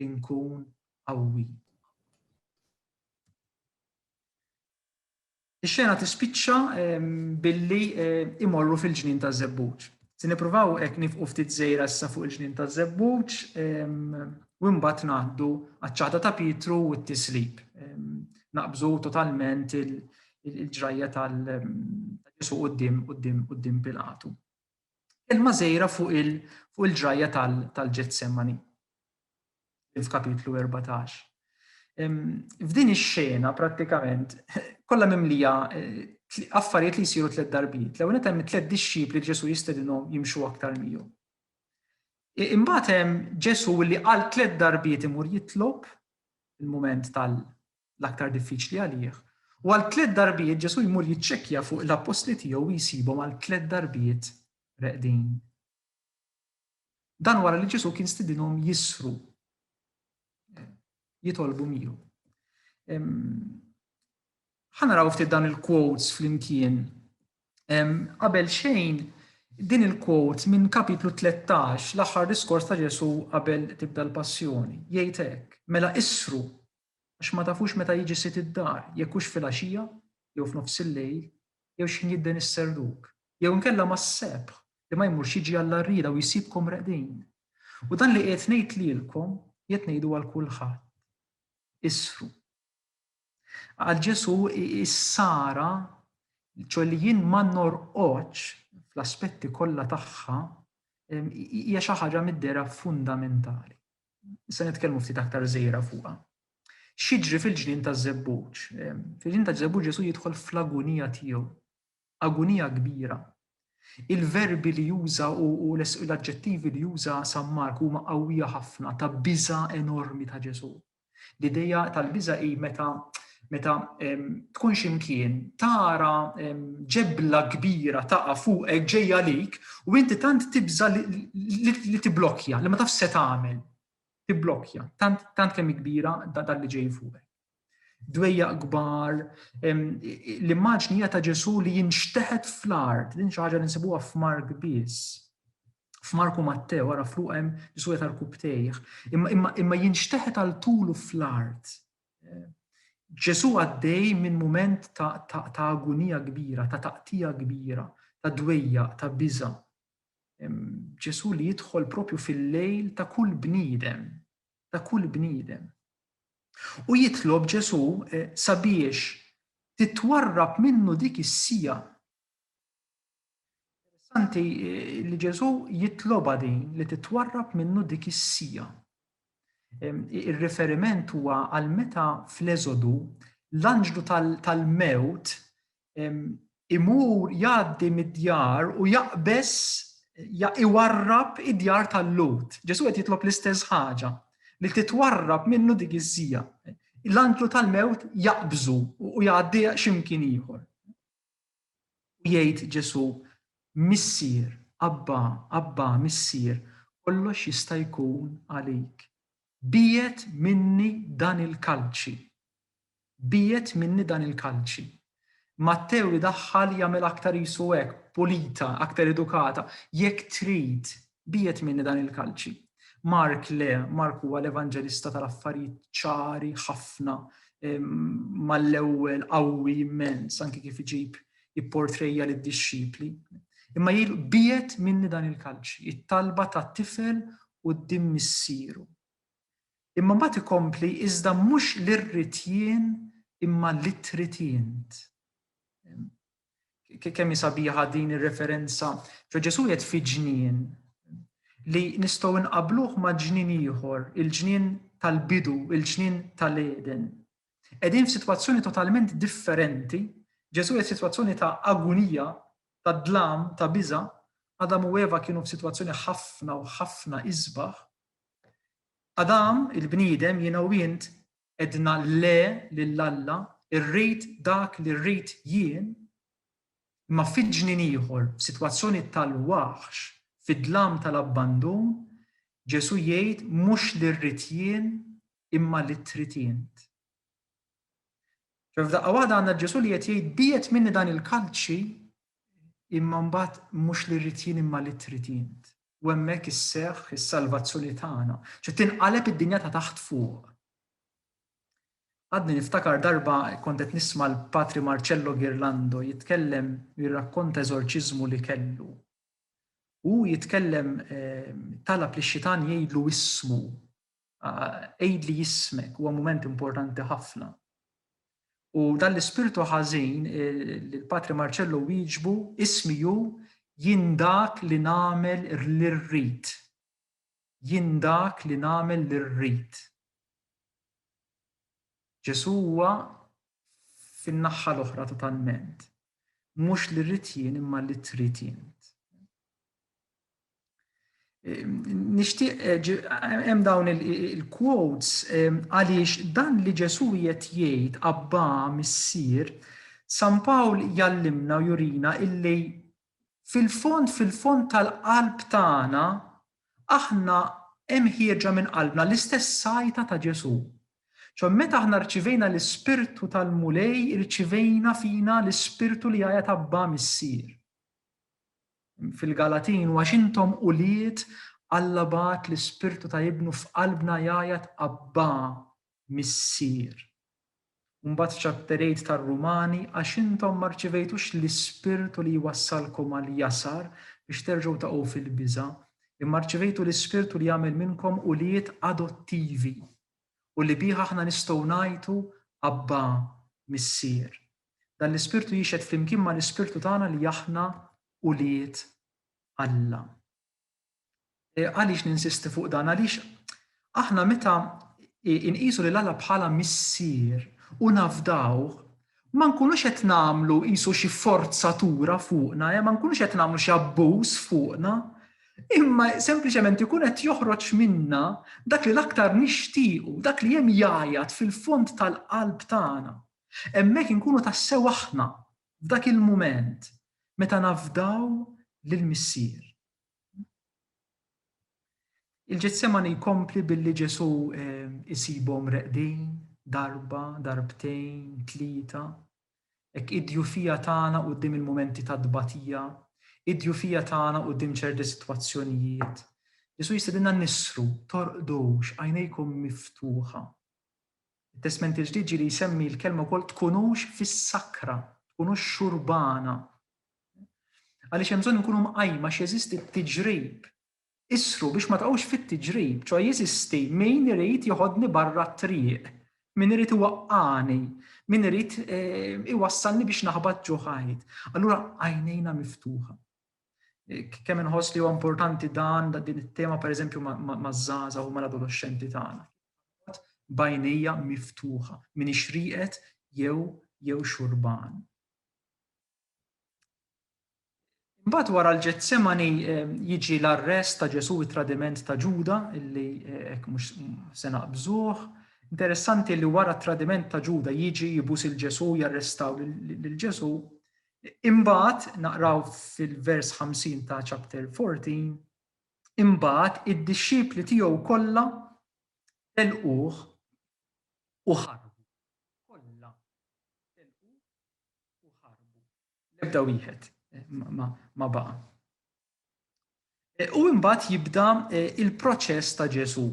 inkun qawwi. Ix-xena tispiċċa billi imorru fil-ġnien taż-żebbuġ. Se nippruvaw hekk nifqu ftit żejra issa fuq il-ġnien taż-żebbuġ u mbagħad ngħaddu għaċ-ċaħda ta' Pietru u t-tislib. Naqbżu totalment il-ġrajja tal-Ġesu quddiem Pilatu. Kelma żgħira fuq il-ġrajja tal-Ġetsemani, f'kapitlu 14. F'din ix-xena prattikament kollha mimlija affarijiet li jsiru tliet darbiet. L-ewwel qed hemm tliet dixxipli li Ġesu jistedinhom jimxu aktar miegħu. Imbagħad hemm Ġesu li għal tliet darbiet imur jitlob il-mument tal l-aktar diffiċli għalih, u għal tliet darbiet Ġesù jmur jiċċekkja fuq l-appostli tiegħu u jsibhom għal tliet darbiet reqdin. Dan wara li Ġesù kien stidinhom jisru jitolbu miegħu. Ħanaraw ftit dan il-quotes flimkien. Qabel xejn, din il-quote minn kapitlu 13, l-aħħar diskors ta' Ġesu qabel tibda l-passjoni, jgħid hekk, mela isru għax ma tafux meta jiġi sid id-dar, jekk hux filgħaxija, jew f'nofs il-lejl, jew x'ħin jidden is-serruk, jew inkella mas-sebħ, li ma jmurx jiġi għall-għarrieda u jsibkom reqdin. U dan li qiegħed ngħid lilkom, qiegħed ngħidu għal kulħadd, Isru. Qal Ġesù, Is-sara, ċoe li jien ma norqodx fl-aspetti kollha tagħha, hija xi ħaġa mid-dehra fundamentali. se nitkellmu ftit aktar żejra fuqha. X'jiġri fil-ġnien taż-żebbuġ? Fil-ġnien taż-żebbuġ Ġesu jidħol fl-agunija tiegħu, agunija kbira. Il-verbi li juża u l-aġġettivi li juża San Mark huma qawwija ħafna ta' biża enormi ta' Ġesu. L-idea tal-biża hi meta meta tkun ximkien tara ġebla kbira taqa fuqek ġejja lik u inti tant tibża li tiblokja, li ma taf se tagħmel. Tiblokja, tant, tant kemm kbira dan li ġej fuqek. Dwejja kbar, l-immaġni ta' Ġesu li jinxteħet fl-art, din xi ħaġa li nsibuha f'Mark biss f'Marku Mattew, għara fluqem Ġesu jeta l-kubtejħ, imma jinxteħet għal tulu fl-art Ġesù għaddej minn mument ta' agunija kbira, ta' taqtigħa kbira, ta' dwejjaq, ta' biża'. Ġesù li jidħol propju fil-lejl ta' kull bniedem, ta' kull bniedem. U jitlob Ġesù sabiex titwarrab minnu dik is-siegħa. Interessanti li Ġesu jitlobha din li titwarrab minnu dik is-sija. Ir-riferiment huwa għal meta fl-Eżodu l-anġlu tal-mewt imur jgħaddi mid-djar u jaqbes iwarrab id-djar tal-Lut. Ġesu qed jitlob l-istess ħaġa li titwarrab minnu dik iż-żija. L-anġlu tal-mewt jaqbżu u jgħaddi x'imkien ieħor. U jgħid Ġesù, Missier, Abbà, Abbà, Missier, kollox jista' jkun għalik. Biegħed minni dan il-kalċi. Biegħed minni dan il-kalċi. Mattew idaħħal jagħmilha aktar qisu hekk, pulita, aktar edukata, Jekk trid, Biegħed minni dan il-kalċi. Mark le, Mark huwa l-evanġelista tal-affarijiet ċari ħafna, mal-ewwel qawwi immens anki kif iġib ipportrejja lid-dixxipli. Imma jgħidu biegħed minni dan il-kalċi, it-talba ta' tifel quddiem missieru. Imma mbagħad ikompli iżda mhux l-irrid jien imma li trid int. Kemm hi sabiħa din ir-referenza. Ġo Ġesù jgħid fi ġnien li nistgħu nqabluh ma' ġnien ieħor, il-ġnien tal-bidu, il-ġnien tal-Eden. Qegħdin f'sitwazzjoni totalment differenti, Ġesù jgħid sitwazzjoni ta' agunija, ta' dlam, ta' biża', Adam u Eva kienu f'sitwazzjoni ħafna u ħafna isbaħ. Adam, il-bniedem, jiena u int, Għedna le lil Alla, irrid dak li rrid jien, imma fi ġnien ieħor, f'sitwazzjoni tal-waħx, fid-dlam tal-abbandun, Ġesù jgħid mhux li rrid jien imma li trid int. F'daqqa waħda għandna Ġesù li qed jgħid bijet minni dan il-kalċi imma mbagħad mhux li rrid jien imma li trid int. u hemmhekk isseħħ is-salvazzjoni tagħna, ċe tinqaleb id-dinja ta' taħt fuq. Għadni niftakar darba kont qed nisma' l-Patri Marcello Ghirlando jitkellem jirrakkonta eżorċiżmu li kellu. U jitkellem ehm, talab li xitan jgħidlu ismu Għidli jismek huwa mument importanti ħafna. U dan l-ispirtu ħażin li l-Patri Marċello wieġbu ismi hu jien dak li nagħmel li rrid. Jien dak li nagħmel li rrid. Ġesù huwa fin-naħħa l-oħra totalment. Mhux li rrid jien imma li trid int. Nixtieq hemm dawn il-quotes għaliex dan li Ġesu qiegħed jgħid Abba Missier, San Pawl jallimna u jurina illi fil-fond fil-fond tal-qalb tagħna aħna hemm ħieġa minn qalbna l-istess sajta ta' Ġesu. Ċo meta aħna rċivejna l-Ispirtu tal-Mulej, rċivejna fina l-Ispirtu li għajat Abba Missier. fil-Galatin, u għax intom ulied, Alla bagħat l-Ispirtu ta' Ibnu f'qalbna jgħajjat Abbà, Missier. U mbagħad f'Chapter 8 tar-Rumani, għax intom ma rċivejtux l-Ispirtu li jwassalkom għall-jasar biex terġgħu taqgħu fil-biża', imma rċivejtu l-Ispirtu li jagħmel minnkom ulied adottivi, u li bih aħna nistgħu ngħajtu, Abbà, Missier. Dan l-ispirtu jixhed flimkien mal-ispirtu tagħna li aħna ulied Alla. E, għaliex ninsisti fuq dan? Għaliex aħna meta inqisu lil Alla bħala missier u nafdawh ma nkunux qed nagħmlu qisu xi forzatura fuqna, eh, ma nkunux qed nagħmlu xi abbuż fuqna, imma sempliċement ikun qed joħroġ minna dak li l-aktar nixtiequ, dak li hemm jajat fil-fond tal-qalb tagħna. Hemmhekk inkunu tassew aħna, f'dak il-mument, meta nafdaw lill-Missier. Il-Ġetsemani jkompli billi Ġesù jsibhom reqdin, darba, darbtejn, tlieta, hekk id-djufija tagħna quddiem il-mumenti ta' tbatija, id-djufija tagħna quddiem ċerti sitwazzjonijiet. Ġesù jistedinna nisru, torqdux, għajnejkom miftuħa. It-Testment il-Ġdid ġieli jsemmi l-kelma wkoll tkunux fis-sakra, tkunux xurbana. Għaliex hemm bżonn inkunu mqajma għax jeżisti t-tiġrib. Isru biex ma taqgħux fit-tiġrib, ċoħe jeżisti min irid joħodni barra t-triq, min irid iwaqqagħni, min irid eh, iwassalni biex naħbat ġo ħajt. Allura għajnejna miftuħa. Kemm inħoss li huwa importanti dan din it-tema pereżempju maż-żgħażagħ u mal-adolexxenti tagħna. Bajnija miftuħa, min ixriqet jew jew xurban. Mbagħad wara l-Ġetsemani ehm, jiġi l-arrest ta' Ġesu it-tradiment ta' Ġuda illi eh, hekk mhux se naqbżuh. Interessanti li wara t-tradiment ta' Ġuda jiġi jibus il-Ġesu jarrestaw lil Ġesu. Imbagħad naqraw fil-vers 50 ta' chapter 14, imbagħad id-dixxipli tiegħu kollha telquh u ħarbu. Kollha telquh u ħarbu. L-ebda wieħed eh, ma baqa'. U imbagħad jibda il-proċess ta' Ġesu.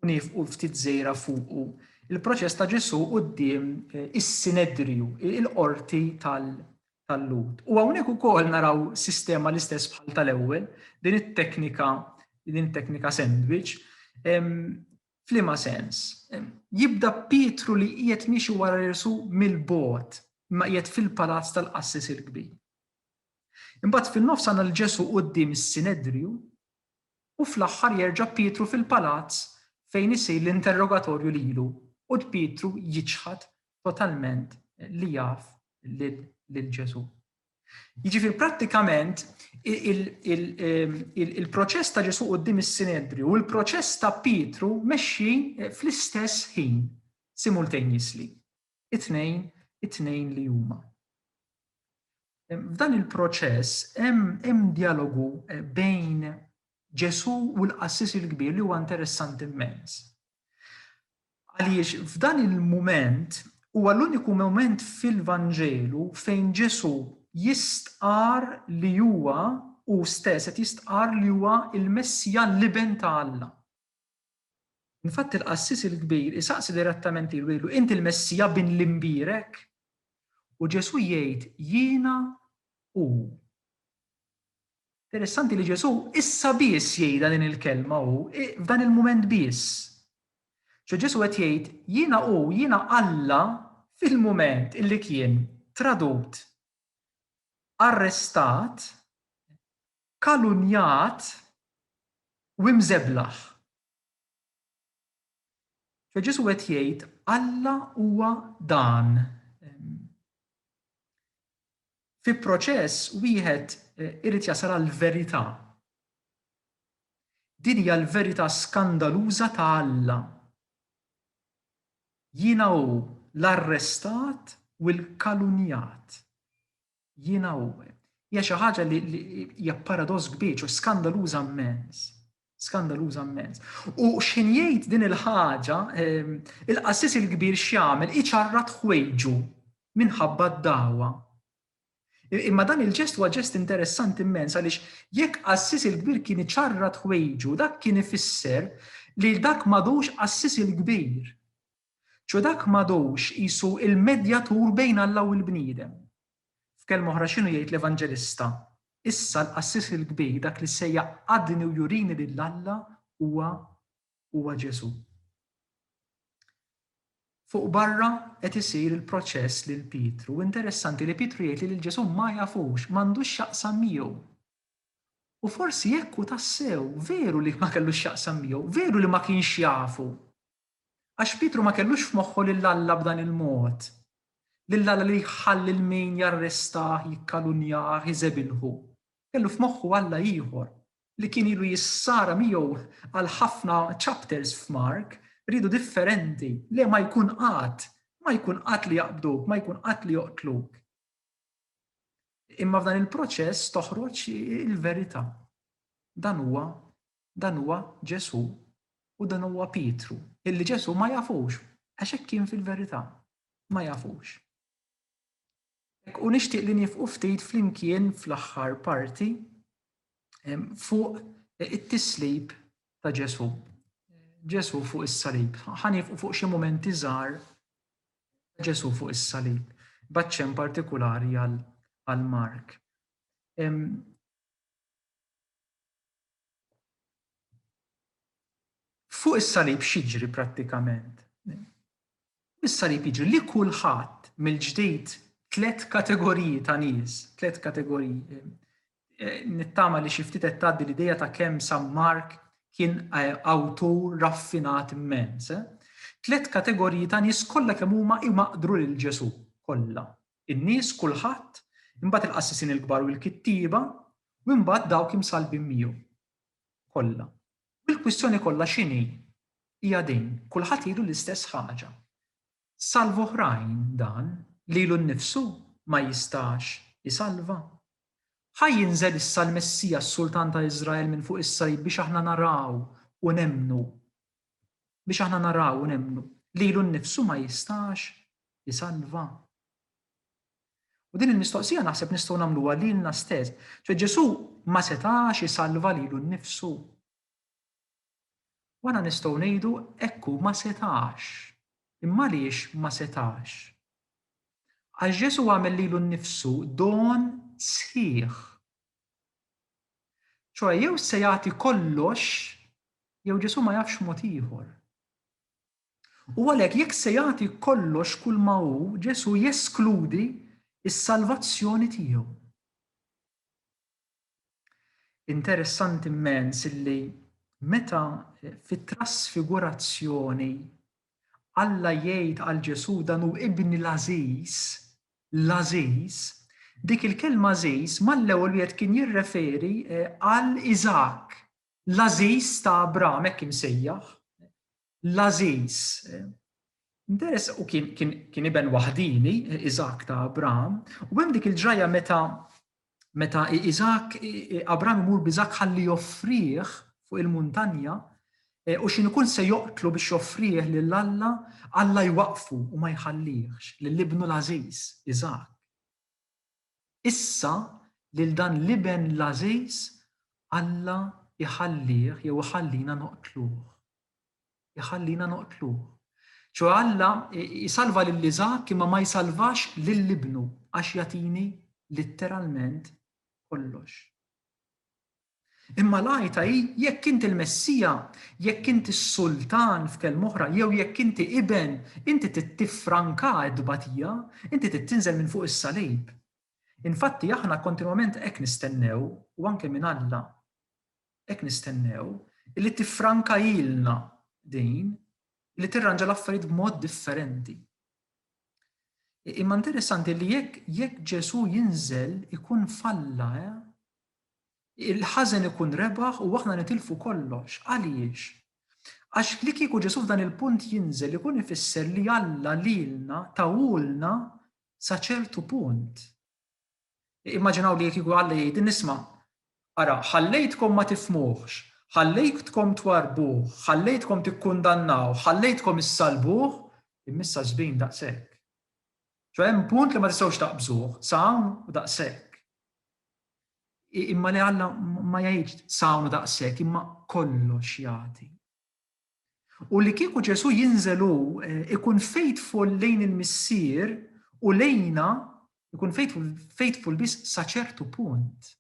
Nifqu ftit żejra fuqu. Il-proċess ta' Ġesu quddiem is-sinedriju, il-qorti tal-Lud. U hawnhekk ukoll naraw sistema l-istess bħal tal-ewwel, din it-teknika din it-teknika sandwich Flima sens, jibda Pietru li qiegħed miexi wara Ġesu mill-bogħod, ma qiegħed fil-palazz tal-qassis il-kbir. Imbagħad fin-nofs għandna lil Ġesù quddiem is-Sinedriju u fl-aħħar jerġa' Pietru fil-palazz fejn isir l-interrogatorju lilu u Pietru jiċħad totalment li jaf lil Ġesù. Jiġifieri prattikament il-proċess ta' Ġesù quddiem is-Sinedriju u l-proċess ta' Pietru mexxin fl-istess ħin simultaneously. It-tnejn, it-tnejn li huma. F'dan il-proċess hemm dialogu eh, bejn Ġesu u l-qassis il-kbir li huwa interessanti immens. Għaliex f'dan il-moment huwa l-uniku moment fil-Vanġelu fejn Ġesu jistqar li huwa u stess qed jistqar li huwa il-Messija l-Iben ta' Alla. Infatti l-qassis il-kbir isaqsi direttament lilu jgħidlu, Int il-Messija bin l-Imbierek? U Ġesù jgħid, Jiena hu. Interessanti li Ġesù issa biss jgħidha din il-kelma hu, f'dan il-mument biss. Ġo Ġesù qed jgħid, Jiena hu, jiena Alla fil-mument illi kien tradut, arrestat, Kalunnjat u imżeblaħ. Ġo Ġesù qed jgħid Alla huwa dan. Fi proċess wieħed irid jasal għall-verità. Din hija l-verità skandaluża ta' Alla. Jiena hu l-arrestat u l-kalunnjat. Jiena u. Hija xi ħaġa li hija paradoss kbir, ċo skandaluża mmens. Skandaluża mmens. U x'ħin jgħid din il-ħaġa, ehm, il-qassis il-kbir x'jagħmel iċarrat ħwejġu minħabba d-dawa. Imma dan il-ġest huwa ġest interessanti immens għaliex jekk qassis il-kbir kien iċarrat ħwejġu, dak kien ifisser li dak madux qassis il-kbir. Ġo dak m'għadux qisu l-medjatur bejn Alla u l-bniedem. F'kelma oħra x'inhu jgħid l-Evanġelista? Issa l-qassis il-kbir, dak li se jgħaqqadni u jurini lil Alla huwa huwa Ġesù. Fuq barra qed isir il-proċess lil Pietru u interessanti li Pietru jgħid li lil Ġesù ma jafux, m'għandux x'jaqsam miegħu. U forsi hekk hu tassew, veru li ma kellux x'jaqsam miegħu, veru li ma kienx jafu. Għax Pietru ma kellux f'moħħu lil Alla b'dan il-mod, lil Alla li jħall lil min jarrestah, jikkalunjah, iżebilħu. Kellu f'moħħu Alla ieħor, li kien ilu jissara miegħu għal ħafna chapters f'Mark, riedu differenti. Le, ma jkun qatt! Ma jkun qatt li jaqbduk, ma jkun qatt li joqtluk. Imma f'dan il-proċess toħroġ il-verità. Dan huwa Dan huwa Ġesù u dan huwa Pietru, illi Ġesù ma jafux, għax hekk kien fil-verità, ma jafux. U nixtieq li nifqu ftit flimkien fl-aħħar parti fuq it-tislib ta' Ġesù. Ġesù fuq is-salib. Ħanifqu fuq xi mumenti żgħar Ġesù fuq is-salib, baċċen partikolari għal Mark. Fuq is-salib x'jiġri prattikament? Is-salib jiġri li kulħadd mill-ġdid tliet kategoriji ta' nies, tliet kategoriji. Eh, nittama li xi ftit qed tgħaddi l-idea ta' kemm San Mark kien eh, awtur raffinat immens. Eh? Tliet kategoriji ta' nies kollha kemm huma imaqdru lil Ġesù kollha. In-nies, kulħadd, imbagħad il-qassisin il-kbar u l-kittieba, u imbagħad dawk imsallbin miegħu. Kollha. U l-kwistjoni kollha x'inhi? Hija din, kulħadd jgħidu l-istess ħaġa. Salva oħrajn dan, lilu nnifsu ma jistax isalva? Ħa jinżel issa l-Messija s-Sultan ta' Iżrael minn fuq is-salib biex aħna naraw u nemmnu biex aħna naraw u nemmnu lilu nnifsu ma jistax isalva? U din il-mistoqsija naħseb nistgħu nagħmluha lilna stess. Ġo Ġesù ma setax isalva lilu nnifsu. Wara nistgħu ngħidu ekku ma setax. Imma għaliex ma setax? Għax Ġesù għamel lilu nnifsu don sħiħ Ċoe jew se jagħti kollox jew Ġesu' ma jafx mod ieħor. U għalhekk jekk se jagħti kollox kulma hu, Ġesu' jeskludi s-salvazzjoni tiegħu. Interessanti mmens illi meta fit-trasfigurazzjoni Alla jgħid għal Ġesu' dan hu ibni l-għażiż, L-għażiż, Dik il-kelma għażiż mal-ewwel wieħed kien jirreferi għal Iżakk, l-għażiż ta' Abraham, hekk imsejjaħ. L-għażiż. Interess, u kien iben waħdieni, Iżakk ta' Abraham, u hemm dik il-ġrajja meta meta Iżak, Abram imur b'Iżak ħalli joffrih fuq il-muntanja, e, u xin ikun se joqtlu biex joffrih lil Alla, Alla jwaqfu u ma jħallihx lil ibnu l-Aziz, Iżak. Issa lil dan l-iben l-Aziz Alla jħallih jew iħallina noqtluh. iħallina noqtluh. ċoe Alla jsalva lil Iżakk imma ma jsalvax lil ibnu għax jagħtini litteralment kollox. Imma l-għajta hi jekk int il-Messija, jekk int is-Sultan f'kelma oħra, jew jekk inti iben, inti trid tiffranka t-tbatija, inti trid tinżel minn fuq is-salib. Infatti aħna kontinwament hekk nistennew u anke minn Alla. hekk nistennew, li tiffrankahilna din, li tirranġa l-affarijiet b'mod differenti. Imma interessanti li jekk jekk Ġesu jinżel ikun falla, eh? il-ħażen ikun rebaħ u aħna nitilfu kollox. Għaliex? Għax li kieku Ġesu f'dan il-punt jinżel ikun ifisser li Alla lilna tawulna sa ċertu punt. Immaġinaw li qed jieħu Alla jgħid, Nisma', ara, ħallejtkom ma tifhmuhx, ħallejtkom twarrbuh, ħallejtkom tikkundannawh, ħallejtkom issallbuh, imma issa żbin daqshekk. Ġo hemm punt li ma tistgħux taqbżuh, sa hawn u daqshekk. Imma li Alla ma jgħidx sa hawn u daqshekk, imma kollox jagħti. U li kieku Ġesù jinżel hu ikun faithful lejn il-Missier u lejna ikun faithful, faithful biss sa ċertu punt.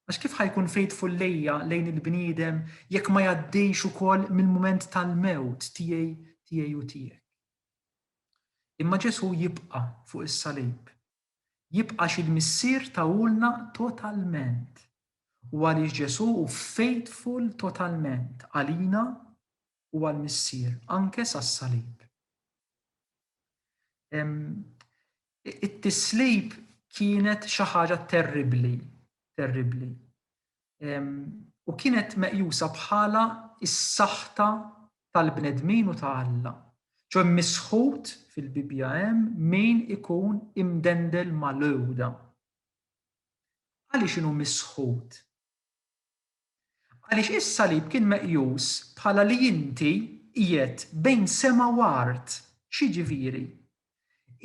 Għax kif ħajkun faithful lejja lejn il-bniedem jekk ma jgħaddejx ukoll mill-mument tal-mewt tiegħi tiegħi u tiegħek. Imma Ġesù jibqa' fuq is-salib jibqax il-Missier tahulna totalment u għaliex Ġesù hu faithful totalment għalina u għall-Missier anke sas-salib. It-tislib kienet xi ħaġa terribbli, terribbli. u kienet meqjusa bħala s-saħta tal-bnedmin u ta' Alla. Ġo mmisħut fil-Bibbja hemm min ikun imdendel mal-għuda. Għaliex inhu misħut? Għaliex is-salib kien meqjus bħala li inti qiegħed bejn sema u art, x'jiġifieri?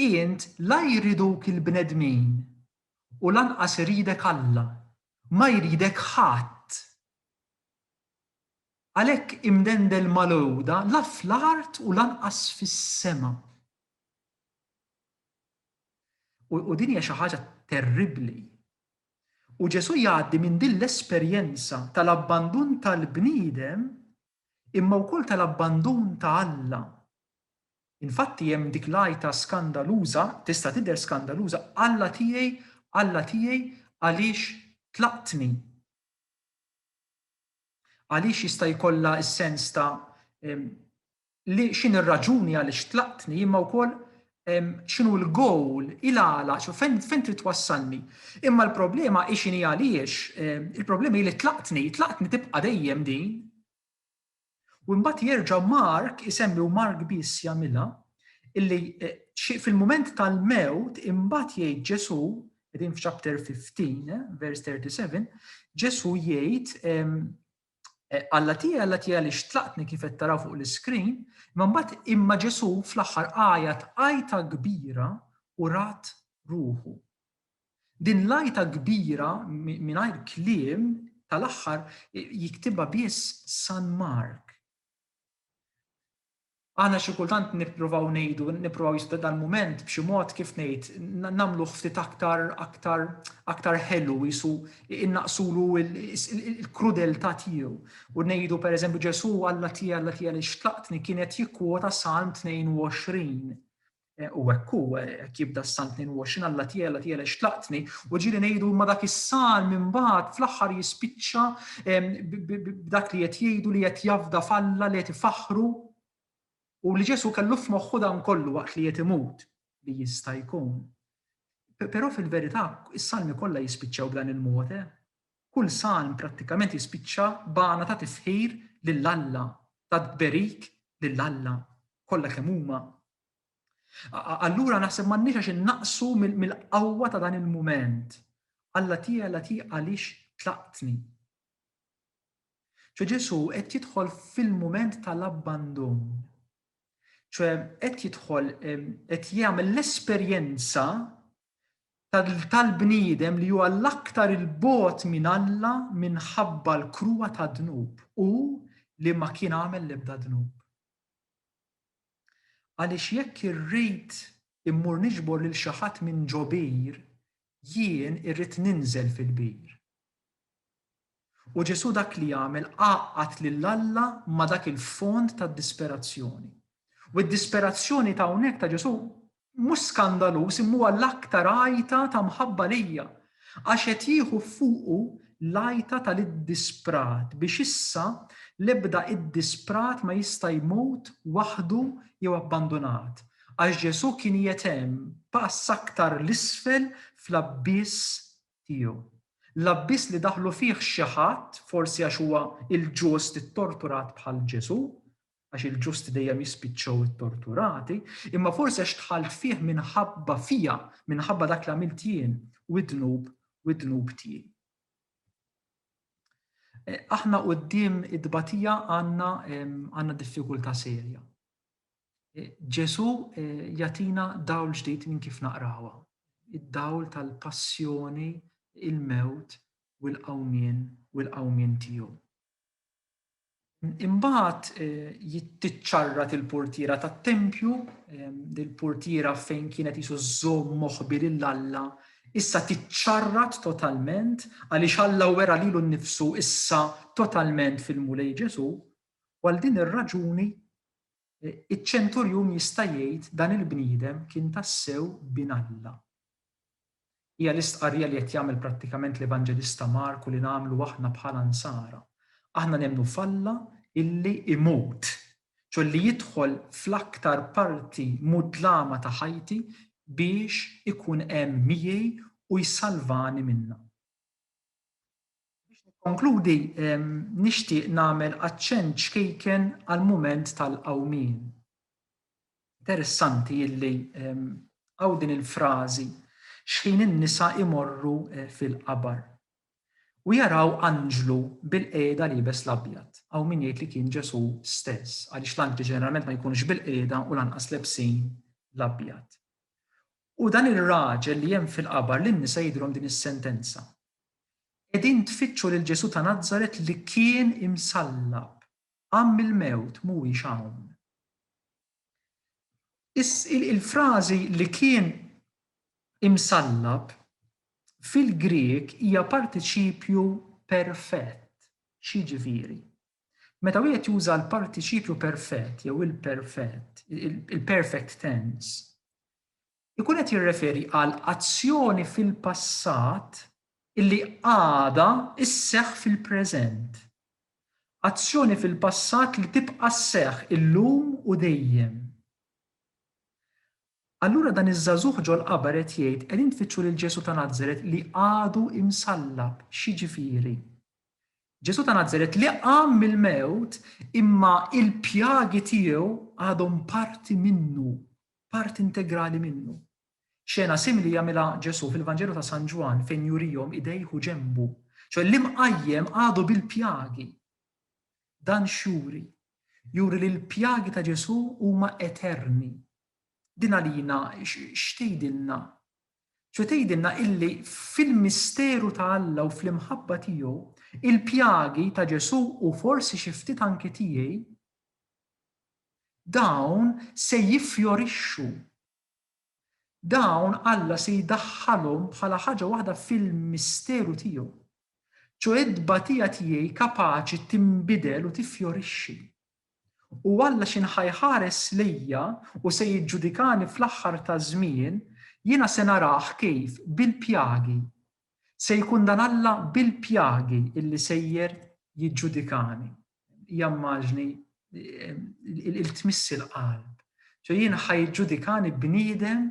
Int la jriduk il-bnedmin u lanqas iridek Alla. Ma jridek ħadd. Għalhekk imdendel mal-għuda la fl-art u lanqas fis-sema. U din hija xi ħaġa terribbli. U Ġesù jgħaddi minn din l-esperjenza tal-abbandun tal-bniedem imma wkoll tal-abbandun ta' Alla. Infatti hemm dik l-għajta skandaluża, tista' tidher skandaluża, Alla tiegħi, Alla tiegħi, għaliex tlaqtni? Għaliex jista' jkollha s-sens ta' li x'inhi r-raġuni għaliex tlaqtni imma wkoll x'inhu l-goal, il-għala, fejn trid twassalni. Imma l-problema hi x'inhi għaliex, il-problema hi li tlaqtni, tlaqtni tibqa' dejjem din. U mbagħad jerġa' Mark isemmi u Mark biss jagħmilha illi eh, fil-mument tal-mewt imbagħad jgħid Ġesu, qegħdin f'chapter 15, eh, vers 37, Ġesu jgħid eh, Alla tiegħi, Alla tiegħi li xtlaqtni kif qed taraw fuq l-iskrin, imma mbagħad imma Ġesu fl-aħħar għajat għajta kbira u rat ruħu. Din l-għajta kbira mingħajr kliem tal-aħħar jiktibha biss San Mark. Aħna xi kultant nippruvaw ngħidu, nippruvaw jista' dal-mument b'xi mod kif ngħid, nagħmluh ftit aktar aktar aktar ħelu qisu innaqsulu l-krudeltà tiegħu. U ngħidu pereżempju Ġesù Alla tiegħi Alla tiegħi għaliex tlaqtni kien qed jikkwota Salm 22. U hekk hu, hekk jibda s-Salm 22, Alla tiegħi, tiegħi xtlaqtni, u ġieli ngħidu ma dak is-Salm imbagħad fl-aħħar jispiċċa b'dak li qed jgħidu li qed jafda f'Alla li qed ifaħħru u li Ġesu kellu f'moħħu dan kollu waqt li qed imut li jista' jkun. Però fil-verità is-Salmi kollha jispiċċaw b'dan il-mod, eh? Kull salm prattikament jispiċċa b'għana ta' tifħir lil Alla, ta' tberik lil Alla, kollha kemm huma. Allura naħseb m'għandniex għax innaqsu mill-qawwa ta' dan il-mument. Alla tiegħi, Alla tiegħi għaliex tlaqtni? ċe Ġesu qed jidħol fil-mument tal-abbandun. ċe qed jidħol qed jagħmel l-esperjenza tal-bniedem li huwa l-aktar 'il bogħod minn Alla minħabba l-kruha tad-dnub, hu li ma kien għamel l-ebda dnub. Għaliex jekk irrid immur niġbor lil xi ħadd minn ġobir, jien irrid ninżel fil-bir. U Ġesù dak li għamel għaqqad lil Alla ma' dak il-fond ta' disperazzjoni. U d-disperazzjoni ta' hawnhekk ta' Ġesù mhux skandaluż imma huwa l-aktar għajta ta' mħabba lejja, għax qed jieħu fuqu l-għajta tal-iddisprat biex issa l-ebda iddisprat ma jista' jmut waħdu jew abbandunat, għax Ġesù kien qiegħed hemm pass aktar 'l isfel fl-abbiss tiegħu. L-abbiss li daħlu fih xi ħadd, forsi għax huwa l-ġust ittorturat bħal Ġesù, għax il-ġusti dejjem jispiċċaw ittorturati, imma forsi għax dħalt fih minħabba fija, minħabba dak li għamilt jien, u id-dnub, u id-dnub tiegħi. Eh, aħna qudiem id-batija għandna diffikultà serja. Ġesù jagħtina dawl ġdid minn kif naqrawha, id-dawl tal-passjoni, il-mewt u l-qawmien u l-qawmien tiegħu. Imbagħad jittiċċarrat il-portiera tat-tempju, il-portiera fejn kienet jisu żżomm moħbi lil Alla, issa tiċċarrat totalment għaliex Alla wera lilu nnifsu issa totalment fil-Mulej Ġesù, u għal din ir-raġuni Iċ-ċenturjun jista' jgħid dan il-bniedem kien tassew bin Alla. Hija l-istqarrija li qed jagħmel prattikament l-Evanġelista Marku li nagħmlu aħna bħala Nsara. Aħna nemmnu f'Alla illi imut, ċoe li jidħol fl-aktar parti mudlama ta' ħajti biex ikun hemm miegħi u jsalvani minnha. Biex nikkonkludi, nixtieq nagħmel aċċenn ċkejken għall-mument tal-qawmien. Interessanti illi hawn din il-frażi xħin in-nisa imorru fil-qabar u jaraw anġlu bil-qiegħda liebes l-abjad. Hawn min jgħid li kien Ġesù stess, għaliex l-anġli ġeneralment ma jkunux bil-qiegħda u lanqas lebsin l-abjad. U dan ir-raġel li hemm fil-qabar lin-nisa jidhirhom din is-sentenza. Qegħdin tfittxu lil Ġesù ta' Nazaret li kien imsallab, qam mill-mewt, mhuwiex hawn. Il-frażi li kien imsallab fil-Grieg hija partiċipju perfett. X'jiġifieri? Meta wieħed juża l-partiċipju perfett jew il-perfett, il-perfect tense, ikun qed jirreferi għal azzjoni fil-passat illi għadha sseħħ fil-preżent. Azzjoni fil-passat li tibqa' sseħħ illum u dejjem. Allura dan iż-żagħżugħ ġol-qabar qed jgħid qegħdin tfittxu lil Ġesù ta' Nazaret li għadu imsallab. X'jiġifieri? Ġesù ta' Nazaret li qam mill-mewt imma il-pjagi tiegħu għadhom parti minnu parti integrali minnu. Xena simili jagħmilha Ġesù fil-Vanġelu ta' San Ġwann fejn jurihom idejh u ġenbu, ċoe l-imqajjem għadu bil-pjagi. Dan x'juri? Juri li l-pjagi ta' Ġesù huma eterni. Din għalina x'tgħidilna? Ċoe tgħidilna illi fil-misteru ta' Alla u fl-imħabba tiegħu, il-pjagi ta' Ġesù u forsi xi ftit anki tiegħi Dawn se jiffjorixxu. Dawn Alla se jdaħħalhom bħala ħaġa waħda fil-misteru tiegħu, ċoe t-tbatija tiegħi kapaċi tinbidel u tiffjorixxi. U Alla x'inhu ħa jħares lejja u se jiġġudikani fl-aħħar taż-żmien, jiena se narah kif bil-pjagi. Se jkun dan Alla bil-pjagi illi sejjer jiġġudikani. jammaġni il-tmissi l-qalb. ċo jien ħajġudikani bniedem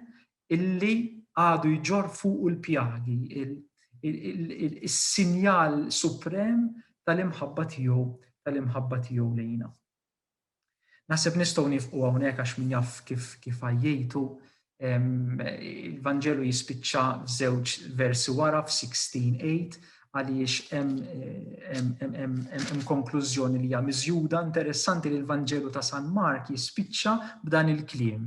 illi għadu jġor fuq il-pjagi, il-sinjal suprem tal-imħabba tiegħu tal-imħabba tiegħu lejna. Naħseb nistgħu nifqu hawnhekk għax min jaf kif kif għajjejtu il-Vanġelu jispiċċa f'żewġ versi wara f'16:8 għaliex hemm konklużjoni li hija miżjuda. Interessanti li l-Vanġelu ta' San Mark jispiċċa b'dan il-kliem.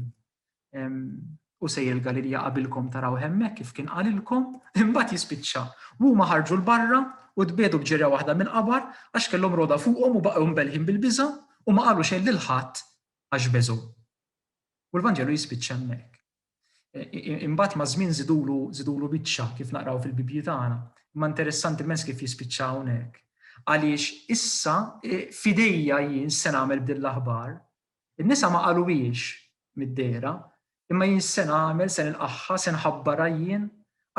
U sejjer il-Galilja qabilkom taraw hemmhekk kif kien qalilkom, imbagħad jispiċċa. U huma ħarġu l-barra u tbiedu b'ġirja waħda mill-qabar għax kellhom roda fuqhom u baqgħu mbelħin bil-biża' u ma qalu xejn lil ħadd għax beżgħu. U l-Vanġelu jispiċċa hemmhekk. Imbagħad ma' żmien żidulu żidulu biċċa kif naqraw fil-Bibbji tagħna. Imma interessanti mens kif jispiċċa hawnhekk. Għaliex issa fidejja jien se nagħmel din l-aħbar In-nisa ma qaluhiex mid-dehra, imma jien se nagħmel, se nilqagħha, se nħabbarha jien.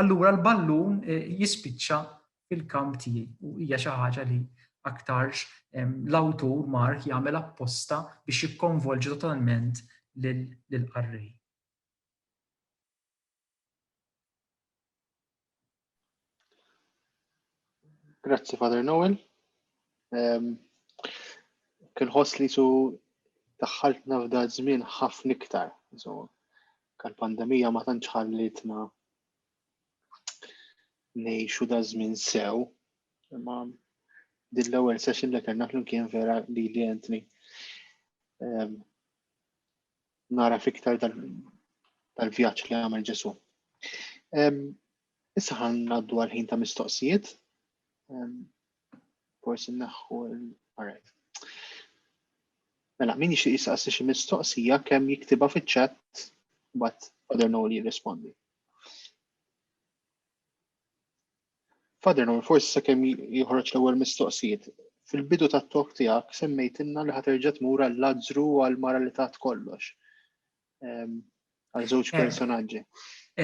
Allura l-ballun jispiċċa fil-kamp tiegħi u hija xi ħaġa li aktarx l-awtur Mark jagħmel apposta biex jikkonvolġi totalment lill-qarrej. Grazzi, Father Noel. Um, kien ħoss li su daħħaltna f'da żmien ħafna iktar. So, kan pandemija ma tantx ħallitna nejxu da żmien sew. Imma din l-ewwel session li kellna flimkien vera li li Anthony. Um, nara fiktar tal-vjaġġ li għamel Ġesu. Issa ħan naddu għal-ħin ta' mistoqsijiet. Forsi naħħu l-għarajt. Mela, min jixtieq jistaqsi xi mistoqsija kemm jiktiba fiċ-chat but other no li jirrispondi. Father Noel, forsi sakemm joħroġ l-ewwel mistoqsijiet, fil-bidu tat-talk tiegħek semmejtilna li ħa terġa' tmur għal Lazzru u għal mara li tat kollox. Ehm, għal żewġ eh. personaġġi.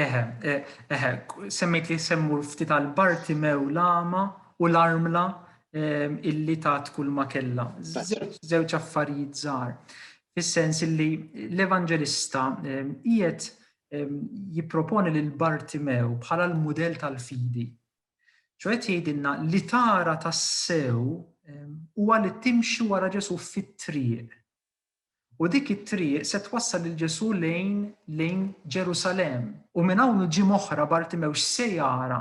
Eħe, eh, eħe, eh, semmejt li semmur ftit għal Bartimew l-ama u l-armla ehm, illi tat kull ma kella. Żewġ affarijiet żgħar. Fis-sens illi l-evanġelista ehm, qiegħed jipproponi lil Bartimew bħala l-mudell tal-fidi. ċoħed qed jgħidilna li tara tassew huwa li timxi wara Ġesu fit-triq. U dik it-triq se twassal lil Ġesu lejn lejn Ġerusalem. U minn hawn ġim oħra Bartimew x'se jara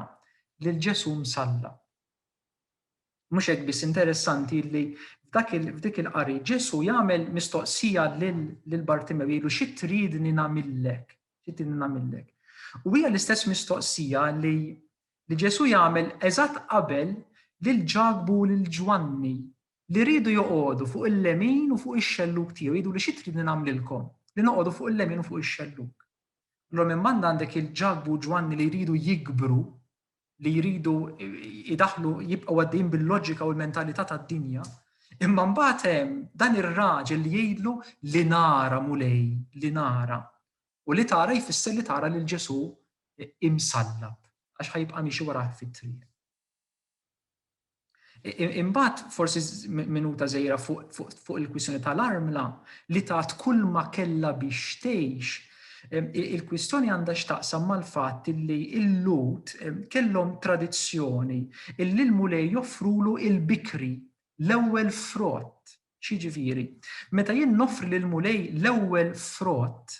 lil Ġesu msalla. Mhux hekk biss, interessanti li f'dik il-qari Ġesù jagħmel mistoqsija lil Bartimew jgħidu xi tridni nagħmillek? Xi tridni nagħmillek? U hija l-istess mistoqsija li li Ġesù jagħmel eżatt qabel lil Ġakbu u lil Ġwanni li rridu joqogħdu fuq il-lemin u fuq ix-xelluk tiegħu jgħidu li xi tridni nagħmlilkom li noqogħdu fuq il-lemin u fuq ix-xelluk. Allura minn banda għandek il-Ġakbu u Ġwanni li jridu jikbru li jridu jidaħlu jibqgħu għaddejjin bil-loġika u l-mentalità tad-dinja, imma mbagħad hemm dan ir-raġel li jgħidlu li nara mulej, li nara. U li tara jfisser li tara lil Ġesu imsallab, għax ħajbqa' miexi wara fit-triq. Imbagħad forsi minuta żgħira fuq il-kwistjoni tal-armla li tat kull ma kellha biex tgħix. Il-kwistjoni għandha x'taqsam mal-fatt li l-Lut kellhom tradizzjoni illi l-Mulej joffrulu il-bikri, l-ewwel frott X'jiġifieri? Meta jien noffri lill-Mulej l-ewwel frott,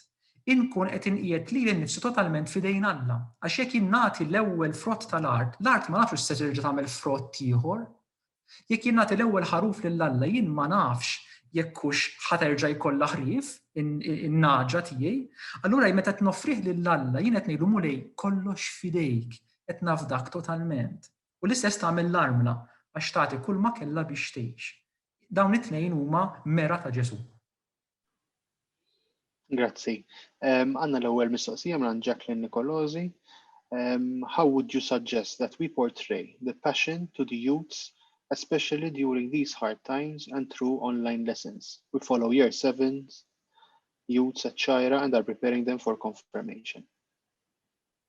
inkun qed inqiegħed lili nnifsi totalment f'idejn Alla. Għax jekk jien nagħti l-ewwel frott tal-art, l-art ma nafx se terġa' tagħmel frott ieħor. Jekk jien nagħti l-ewwel ħaruf lil Alla, jien ma nafx jekk hux ħa terġa' jkollha ħrief, in-nagħġa tiegħi. Allura meta qed noffrih lil Alla, jien qed ngħidlu Mulej, kollox f'idejk, qed nafdak totalment. U l-istess tagħmel l-armla, għax tagħti kulma kellha biex tgħix. Dawn it-tnejn huma mera ta' Ġesù. Grazzi. Għanna l-ewwel mistoqsija minn Jacqueline Nicolosi. Um, how would you suggest that we portray the passion to the youths, especially during these hard times and through online lessons? We follow year sevens, youths at Shira, and are preparing them for confirmation.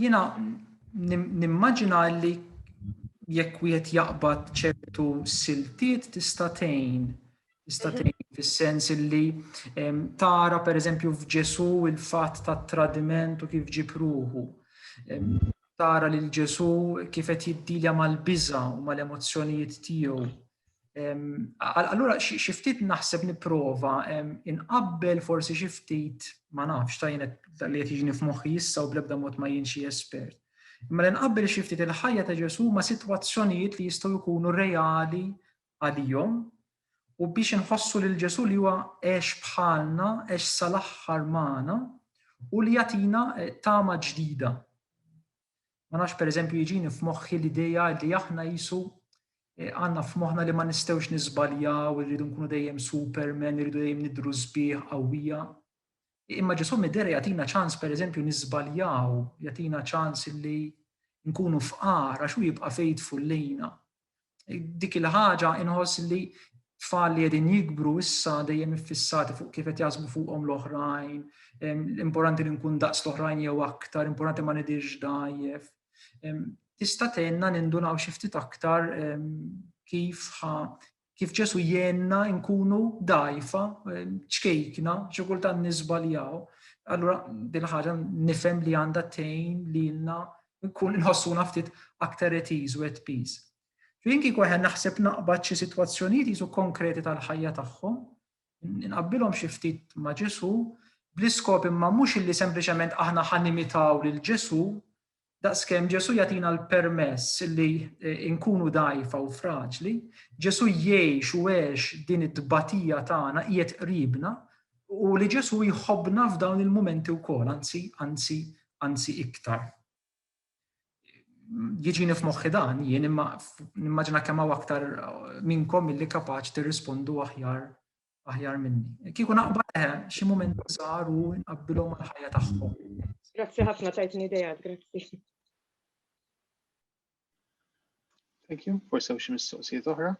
Jiena nimmaġina li jekk wieħed jaqbad ċertu siltiet tista' tgħin tista' mhm. tgħin fis-sens illi tara pereżempju f'Ġesù il-fatt tat-tradiment u kif ġib ruħu. Tara lil Ġesù kif qed jiddilja mal-biża' u mal-emozzjonijiet tiegħu. Allura, xi ftit naħseb nipprova inqabbel forsi xi ftit ma nafx ta' jienet li qed jiġni f'moħħi issa u bl-ebda mod ma jien xi espert. Imma li nqabbel xi ftit il-ħajja ta' Ġesu ma' sitwazzjonijiet li jistgħu jkunu reali għalihom u biex inħossu lil Ġesu li huwa għex bħalna, għex sal-aħħar magħna u li jagħtina eh, tama ġdida. Ma nafx pereżempju jiġini f'moħħi l-idea li aħna jisu eh, għandna f'moħħna li ma nistgħux niżbaljaw, irridu nkunu dejjem supermen, irridu dejjem nidru sbieħ qawwija. Imma Ġesu midera jagħtina ċans pereżempju niżbaljaw, jagħtina ċans li nkunu fqar għax hu jibqa' faithful lejna. Dik il-ħaġa inħoss li tfal li qegħdin jikbru issa dejjem iffissati fuq kif qed jaħsbu fuqhom l-oħrajn, importanti li nkun daqs l-oħrajn jew aktar, importanti ma nidirx dajjef. Tista' tenna nindunaw xi ftit aktar kif kif ġesu jenna nkunu dajfa, ċkejkna, xi kultant nisbaljaw. Allura din ħaġa nifhem li għandha tejn lilna Nkun inħossuna ftit aktar at ease u at peace. Jien kieku eħe naħseb naqbad xi sitwazzjonijiet jisu konkreti tal-ħajja tagħhom, inqabbilhom xi ftit ma' Ġesu, bl-iskop imma mhux illi sempliċement aħna ħa nimitaw lil Ġesu, daqskemm Ġesu jagħtina l-permess illi eh, nkunu dajfa u fraġli, Ġesu jgħix u għex din it tbatija tagħna qiegħed qribna, U li Ġesù jħobbna f'dawn il-mumenti wkoll, anzi, anzi, anzi iktar. Jiġini f'moħħi dan, jien imma nimmaġina kemm hawn aktar minnkom milli kapaċ tirrispondu aħjar aħjar minni. Kieku naqba leħe, xi mument żgħar u nqabbilhom mal-ħajja tagħhom. Grazzi ħafna tajtni idea, grazzi. Thank you. Forse hemm xi mistoqsijiet oħra?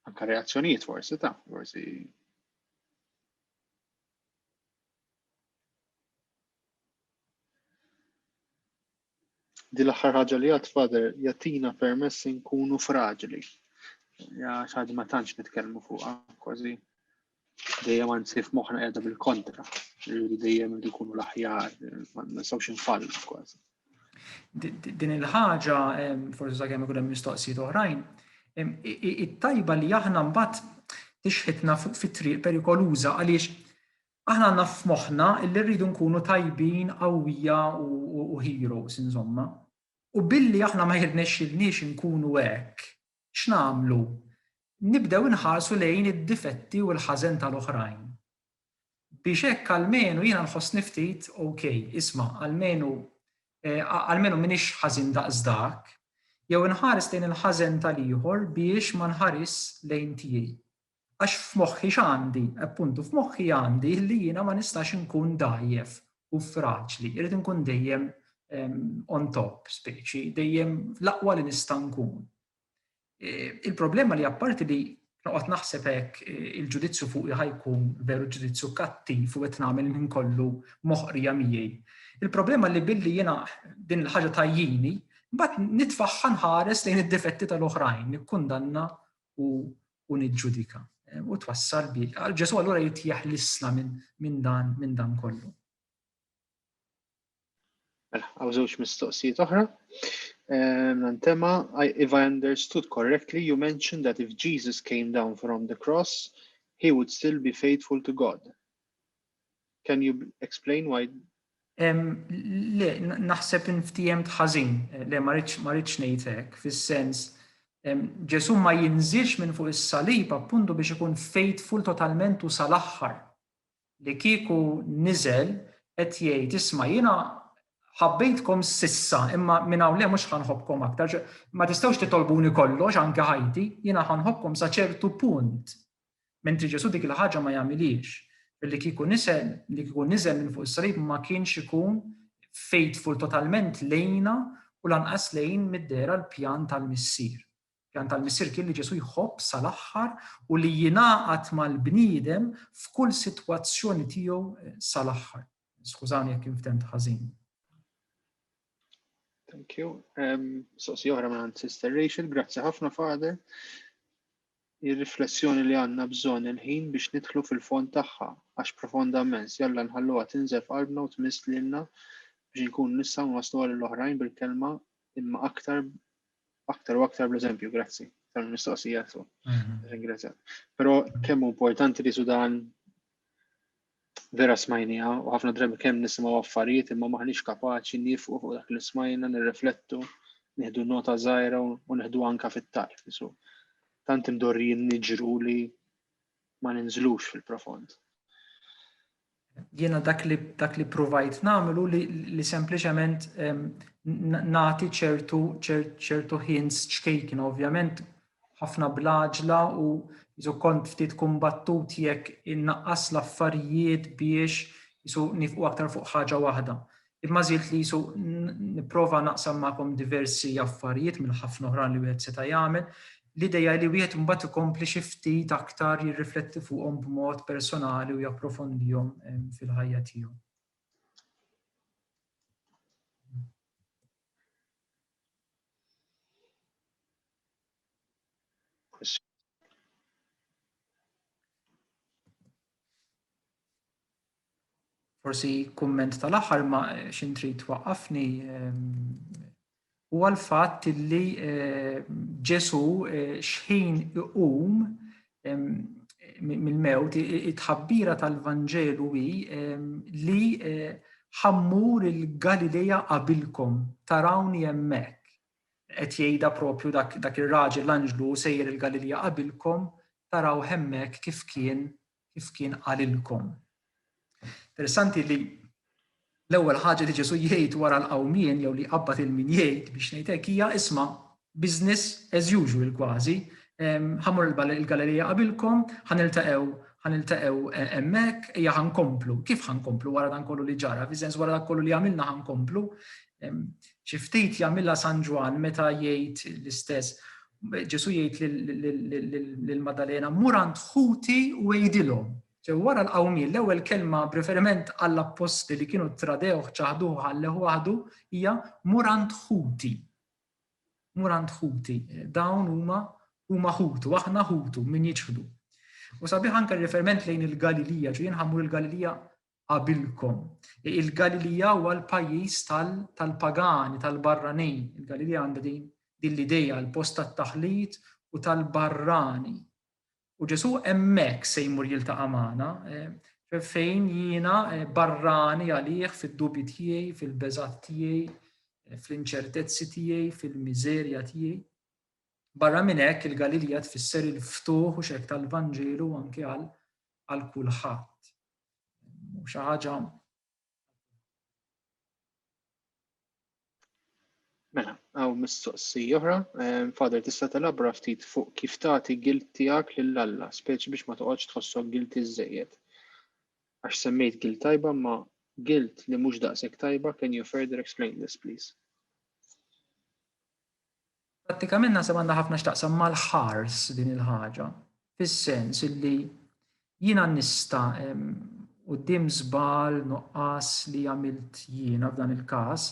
Anka reazzjonijiet forsi ta' forsi di l-aħħar ħaġa li għad fader jatina permess nkunu fraġli. Ja xaħġa ma tantx nitkellmu fuqha kważi dejjem anzi f'moħħna qiegħda bil-kontra, li dejjem irid ikunu l-aħjar, ma nistgħux infall kważi. Din il-ħaġa, forsi sakemm ikun hemm mistoqsijiet oħrajn, it-tajba li aħna mbagħad tixħitna fuq fit-triq perikoluża għaliex aħna għandna f'moħħna li rridu nkunu tajbin, qawwija u heroes insomma. U billi aħna ma jirnexxilniex nkunu hekk, X'nagħmlu? Nibdew inħarsu lejn id-difetti u l-ħażen tal-oħrajn. Biex hekk almenu jiena nħossni ftit ok, isma', almenu almenu m'iniex ħażin daqs dak, jew inħares lejn il-ħażen tal-ieħor biex ma nħarisx lejn tiegħi. Għax f'moħħi x'għandi? Appuntu, f'moħħi għandi li jiena ma nistax inkun dgħajjef u fraġli, irrid inkun dejjem on top speċi, dejjem l-aqwa li nista' nkun. E, il-problema li apparti li noqgħod naħseb hekk e, il-ġudizzju fuq ħajkun veru ġudizzju kattiv u qed nagħmel minn kollu moħqrija miegħi. Il-problema li billi jiena din il-ħaġa tajjini, mbagħad nitfaħħa nħares lejn id-difetti tal-oħrajn, nikkundanna u u niġġudika. U twassal bi. Għal Ġesu allura jitjeħ l-isla minn dan minn dan kollu. Mela, għaw żewġ mistoqsijiet oħra. Ehm, Nantema, if I understood correctly, you mentioned that if Jesus came down from the cross, he would still be faithful to God. Can you explain why? Le, naħseb inftiem tħażin, le ma rridx ngħid hekk, fis-sens Ġesu ma jinżilx minn fuq is-salib appuntu biex ikun faithful totalment u sal-aħħar. Li kieku niżel qed jgħid isma' jiena ħabbejtkom sissa imma minn hawn le mhux ħanħobkom aktar. Ma tistgħux titolbuni kollox anke ħajti, jiena ħanħobkom sa ċertu punt. Mentri Ġesù dik il-ħaġa ma jagħmilhiex. Billi kieku nisel, li kieku niżel minn fuq is-salib ma kienx ikun faithful totalment lejna u lanqas lejn mid-dehra l-pjan tal-Missier. Pjan tal-Missier kien li Ġesù jħobb sal-aħħar u li jingħaqad mal-bniedem f'kull sitwazzjoni tiegħu sal-aħħar. Skużani jekk inftemt ħażin. Thank you. Um, so, si oħra minn Sister Rachel, grazzi ħafna Father. Ir-riflessjoni li għandna bżonn il-ħin biex nidħlu fil-fond tagħha, għax profonda mens, jalla nħalluha tinżef qalbna u tmiss lilna biex nkun nistgħu nwasslu għal l-oħrajn bil-kelma imma aktar aktar u aktar bl-eżempju, grazzi tal-mistoqsija tu. Mhm. Ringrazzja. Però kemm importanti li sudan Vera smajniha u ħafna drabi kemm nisimgħu affarijiet imma m'aħniex kapaċi niefqu fuq dak li smajna, nirriflettu, nieħdu nota żgħira u neħduha anke fit-tarf. So, tant imdorrijin niġru li ma ninżlux fil-profond. Jiena dak li dak li provajt nagħmlu li, li sempliċement nagħti ċertu ċertu hints ċkejkna ovvjament ħafna bl-għaġla u jisu kont ftit kumbattut jekk innaqqas l-affarijiet biex jisu nifqu aktar fuq ħaġa waħda. Imma żilt li jisu nipprova naqsam magħkom diversi affarijiet minn ħafna oħran li wieħed seta' jagħmel. L-idea li wieħed mbagħad ikompli xi ftit aktar jirrifletti fuqhom b'mod personali u japprofondihom ehm, fil-ħajja tiegħu. Forsi kumment tal-aħħar ma xin trid waqqafni ehm, huwa l-fatt li eh, Ġesu eh, xħin iqum ehm, mill-mewt it-tħabbira tal-Vanġelu hi ehm, li eh, ħammur il-Galilea qabilkom tarawni hemmhekk. Qed jgħidha proprju dak, dak ir-raġel l-anġlu hu sejjer il-Galilja qabilkom, taraw hemmhekk kif kien, kif kien qalilkom. Interessanti li l-ewwel ħaġa li Ġesu jgħid wara l-qawmien jew li jqabbad il-min jgħid biex ngħid hekk hija isma' business as usual kważi, ħamur il-Galilija qabilkom, ħaniltaqgħu ħaniltaqgħu e, hemmhekk, hija ħankomplu. Kif ħankomplu wara dan kollu li ġara? Fiż-sens wara dak kollu li għamilna ħankomplu. Xi ftit jagħmilha San Ġwann meta jgħid l-istess, Ġesu jgħid lil Maddalena, mur għand ħuti u għidilhom. Ġew wara l-qawmien l-ewwel kelma b'riferiment għall-apposti li kienu tradewh, ċaħduh ħalleħ waħdu hija mur għand ħuti. Mur għand ħuti. Dawn huma huma ħutu, aħna ħutu min jiċħdu. U sabiħ anke riferiment lejn il-Galilija, ġu jinħamur il-Galilija qabilkom. Il-Galilija huwa l-pajjiż tal-pagani, tal-barranin. Il-Galilija għandha din din l-ideja l-post tat-taħlit u tal-barrani. U Ġesu hemmhekk se jmur jiltaqa' magħna, eh, fejn jiena eh, barrani għalih fid-dubji tiegħi, fil-beżat tiegħi, eh, fl-inċertezzi tiegħi, fil-miżerja tiegħi. Barra minn hekk il-Galilija tfisser il-ftuħ u xek tal-Vanġelu anke għal kulħadd. u xi ħaġa Mela, għaw mistoqsi oħra, ehm, fader tista' telabra ftit fuq kif tagħti gilt tiegħek lil Alla, speċi biex ma toqgħodx tħossok gilt iżejjed. Għax semmejt gilt tajba ma gilt li mhux daqshekk tajba, can you further explain this please? Prattikament naħseb għandha ħafna x'taqsam mal-ħars din il-ħaġa, fis-sens illi jiena nista' quddiem żball, nuqqas li għamilt jiena f'dan il-każ,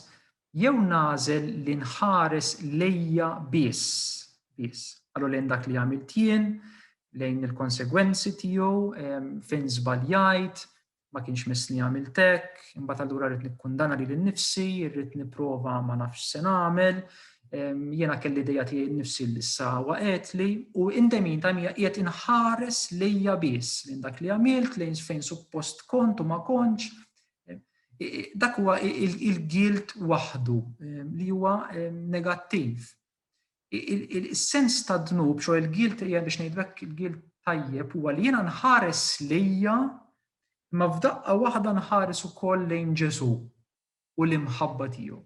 jew nagħżel li nħares lejja biss, biss, allura lejn dak li għamilt jien, lejn il-konsegwenzi tiegħu, fejn żbaljajt, ma kienx missni għamilt hekk, imbagħad allura rrid nikkundana lili nnifsi, rrid nipprova ma nafx se nagħmel, jiena kelli dejja tiegħi nnifsi li issa waqgħetli u in the meantime hija qiegħed inħares lejja biss lejn dak li għamilt, lejn fejn suppost kont u ma kontx. Dak huwa il-gilt waħdu li huwa negattiv. is-sens ta' dnub, xo il-gilt hija biex ngħidlek il-gilt tajjeb huwa li jiena nħares lejja imma f'daqqa waħda nħares ukoll lejn Ġesù u l-imħabba tiegħu.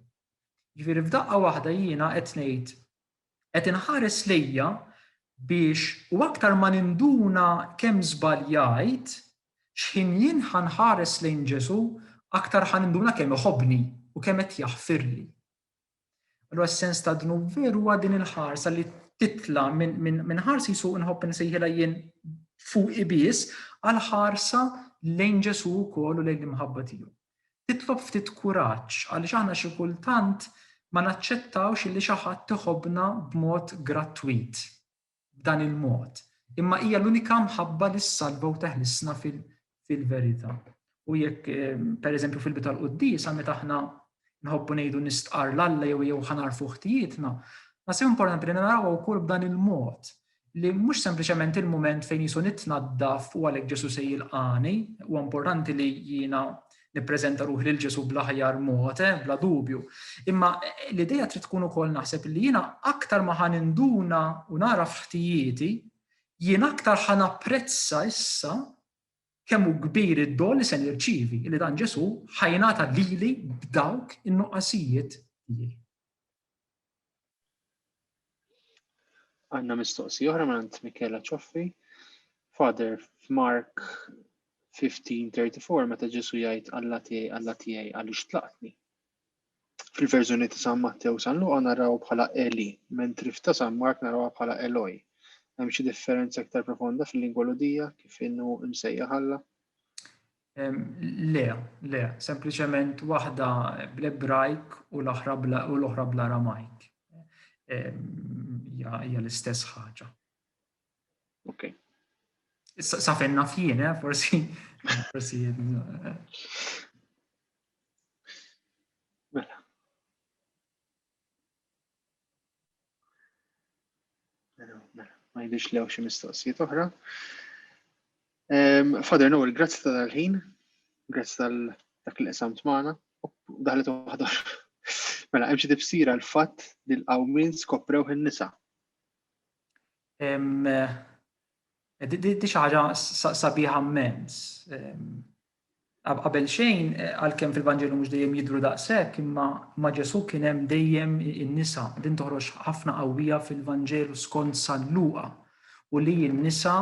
Ġifieri f'daqqa waħda jiena qed ngħid qed inħares lejja biex u aktar ma ninduna kemm żbaljajt x'ħin jien ħanħares lejn Ġesù aktar ħaninduna kemm iħobbni u kemm qed jaħfirli. Allura s-sens ta' dnub veru huwa din il-ħarsa li titla minn ħarsi su nħobb nsejħilha jien fuq ibis għal ħarsa lejn Ġesu wkoll u lejn l-imħabba tiegħu. Titlob ftit kuraġġ għaliex aħna xi kultant ma naċċettawx li xi ħadd iħobbna b'mod grattwit. b'dan il-mod, imma hija l-unika mħabba li ssalva u teħlisna fil-verità. U jekk, ehm, per eżempju, fil-bit tal-quddis, għal meta aħna nħobbu ngħidu nistqar l-Alla jew jew ħanar fuħtijietna, ma se importanti li naraw wkoll b'dan il-mod li mhux sempliċement il-moment fejn jisu nitnaddaf u għalhekk Ġesu se jilqani, u importanti li jiena nippreżenta ruħi lil Ġesù bl-aħjar mod, eh, bla dubju. Imma eh, l-idea trid tkun ukoll naħseb li jiena aktar ma ħan induna u nara f'ħtijieti, jien aktar ħan apprezza issa kemm hu kbir id-dol li se nirċivi li dan Ġesù ħajnata lili b'dawk in-nuqqasijiet tiegħi. Għanna mistoqsi oħra minn Michela Cioffi. Father, f'Mark 15:34 meta Ġesu jgħid Alla tiegħi, Alla tiegħi għaliex tlaqtni. Fil-verżjoni ta' San Mattew San Luqa naraw bħala Eli, mentri f'ta' San Mark narawha bħala Eloi. Hemm xi differenza iktar profonda fil-lingwa Lhudija kif inhu msejjaħ Alla? Le, le, sempliċement waħda bl-Ebrajk u l-oħra bl-Aramajk. Hija l-istess ħaġa. Ok. Sa fejn naf jien, eh, forsi. Forsi. Eh. Mela. Ma jidhirx li hawn xi mistoqsijiet oħra. Father Noel, grazzi ta' dal-ħin, grazzi tal dak li qsamt magħna, daħlet waħda. Mela, hemm xi tifsira l-fatt li l-qawmin skoprew in-nisa. Eh, di xi ħaġa sabiħa mmens. Qabelxejn, għalkemm fil-Vanġelu mhux dejjem jidhru daqshekk, imma ma' Ġesù kien hemm dejjem in-nisa. Din toħroġ ħafna qawwija fil-Vanġelu skont San Luqa, u li n-nisa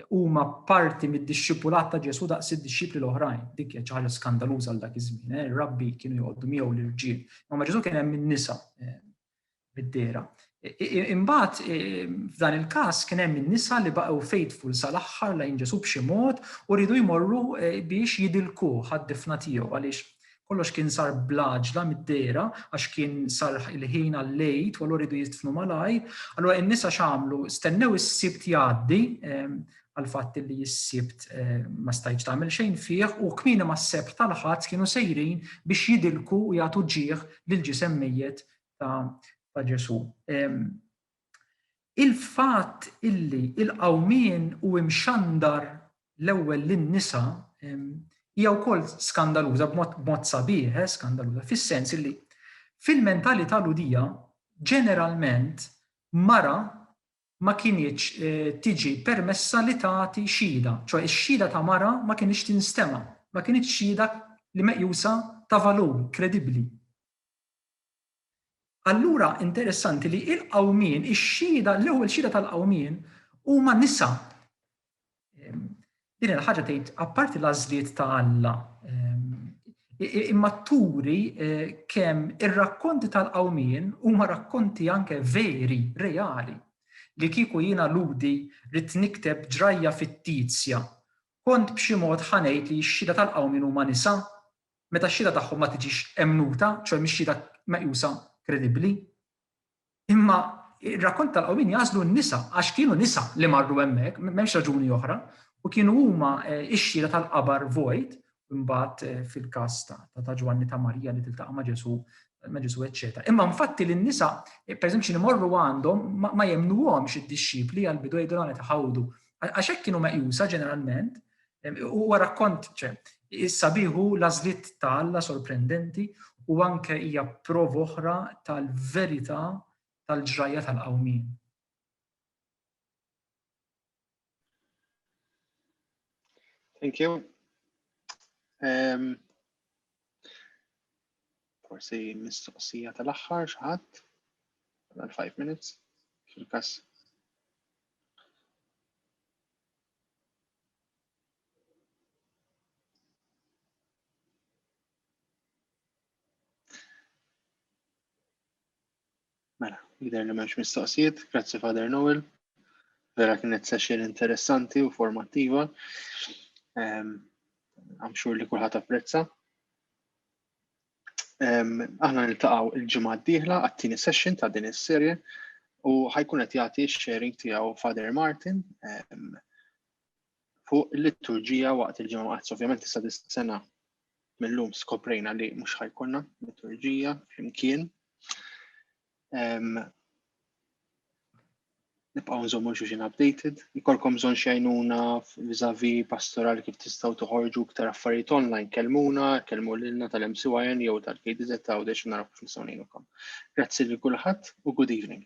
huma parti mid-dixxipulat ta' Ġesù daqs id-dixxipli l-oħrajn. Dik kienet xi ħaġa skandaluża għal dak iż-żmien. Ir-rabbi kienu joqogħdu miegħu l-irġiel. Imma ma' Ġesù kien hemm in-nisa. mid-dehra. Imbagħad f'dan il-każ kien hemm in-nisa li baqgħu faithful sal-aħħar lejn Ġesu b'xi mod u rridu jmorru biex jidilku għad-difna tiegħu għaliex kollox kien sar blaġla mid-dehra għax kien sar il-ħin għal-lejt u allura jridu jidfnu malajr. Allura in-nisa x'għamlu? Stennew is-sibt jgħaddi ehm, għal fatt li s-sibt eh, ma stajċ tagħmel xejn fih u kmini ma s-sebt tal-ħadd kienu sejrin biex jidilku u jagħtu ġieħ lil ġisem mejjet ta' Ġesu. Il-fatt illi il-qawmien u imxandar l-ewwel lin-nisa hija wkoll skandaluża b'mod sabiħ, eh, skandaluża fis-sens illi fil-mentalità ludija ġeneralment mara ma kinitx tiġi permessa li tagħti xhieda, ċoe x-xhieda ta' mara ma kinitx tinstema', ma kinitx xhieda li meqjusa ta' valur, kredibbli. Allura interessanti li il-qawmien, ix-xhieda, l-ewwel xhieda tal-qawmien huma nisa. Din il-ħaġa tgħid apparti l-għażliet ta' Alla imma turi kemm ir-rakkonti tal-qawmien huma rakkonti anke veri, reali, li kieku jiena ludi rrid nikteb ġrajja fittizja, kont b'xi mod ħa ngħid li x-xhieda tal-qawmien huma nisa, meta x-xhieda tagħhom ma tiġix emmnuta, ċoe mhix xhieda meqjusa kredibbli. Imma ir-rakkont tal-qawmien jagħżlu n-nisa għax kienu nisa li marru hemmhekk, m'hemmx raġuni oħra, u kienu huma x-xhieda tal-qabar vojt, imbagħad fil-każ ta' Ġwanni ta' Marija li tiltaqa' ma' Ġesù ma' Ġesù eċċetera. Imma infatti lin-nisa pereżempju xi imorru għandhom ma jemmnuhomx id-dixxipli għall-bidu jgħidulhom qed iħawdu għax hekk kienu meqjusa ġeneralment Huwa rakkont ċe, issa biħu l-għażliet ta' Alla sorprendenti u anke hija prova oħra tal-verità tal-ġrajja tal-qawmien. Thank you. Um, forsi mistoqsija tal-aħħar xaħat, għal 5 minutes, fil-kas Mela, jider li menx mistoqsijiet, grazzi Father Noel. Vera kienet session interessanti u formattiva. Għamxur ehm, li kullħat apprezza. Aħna niltaqgħu il-ġimgħa d-dieħla għat-tieni session ta' din is-serje u ħajkun qed jagħti x-sharing tiegħu Father Martin fuq il-liturġija waqt il-ġimgħa waqt ovvjament issa dis-sena mill-lum skoprejna li mhux ħajkonna liturġija flimkien. nibqgħu nżommu xulxin updated. Ikolkom bżonn xejnuna vizavi pastoral kif tistgħu toħorġu iktar affarijiet online, kelmuna, kelmu lilna tal-MCYN jew tal-KDZ ta' għawdex naraw kif nistgħu ngħinukom. Grazzi lil kulħadd u good evening.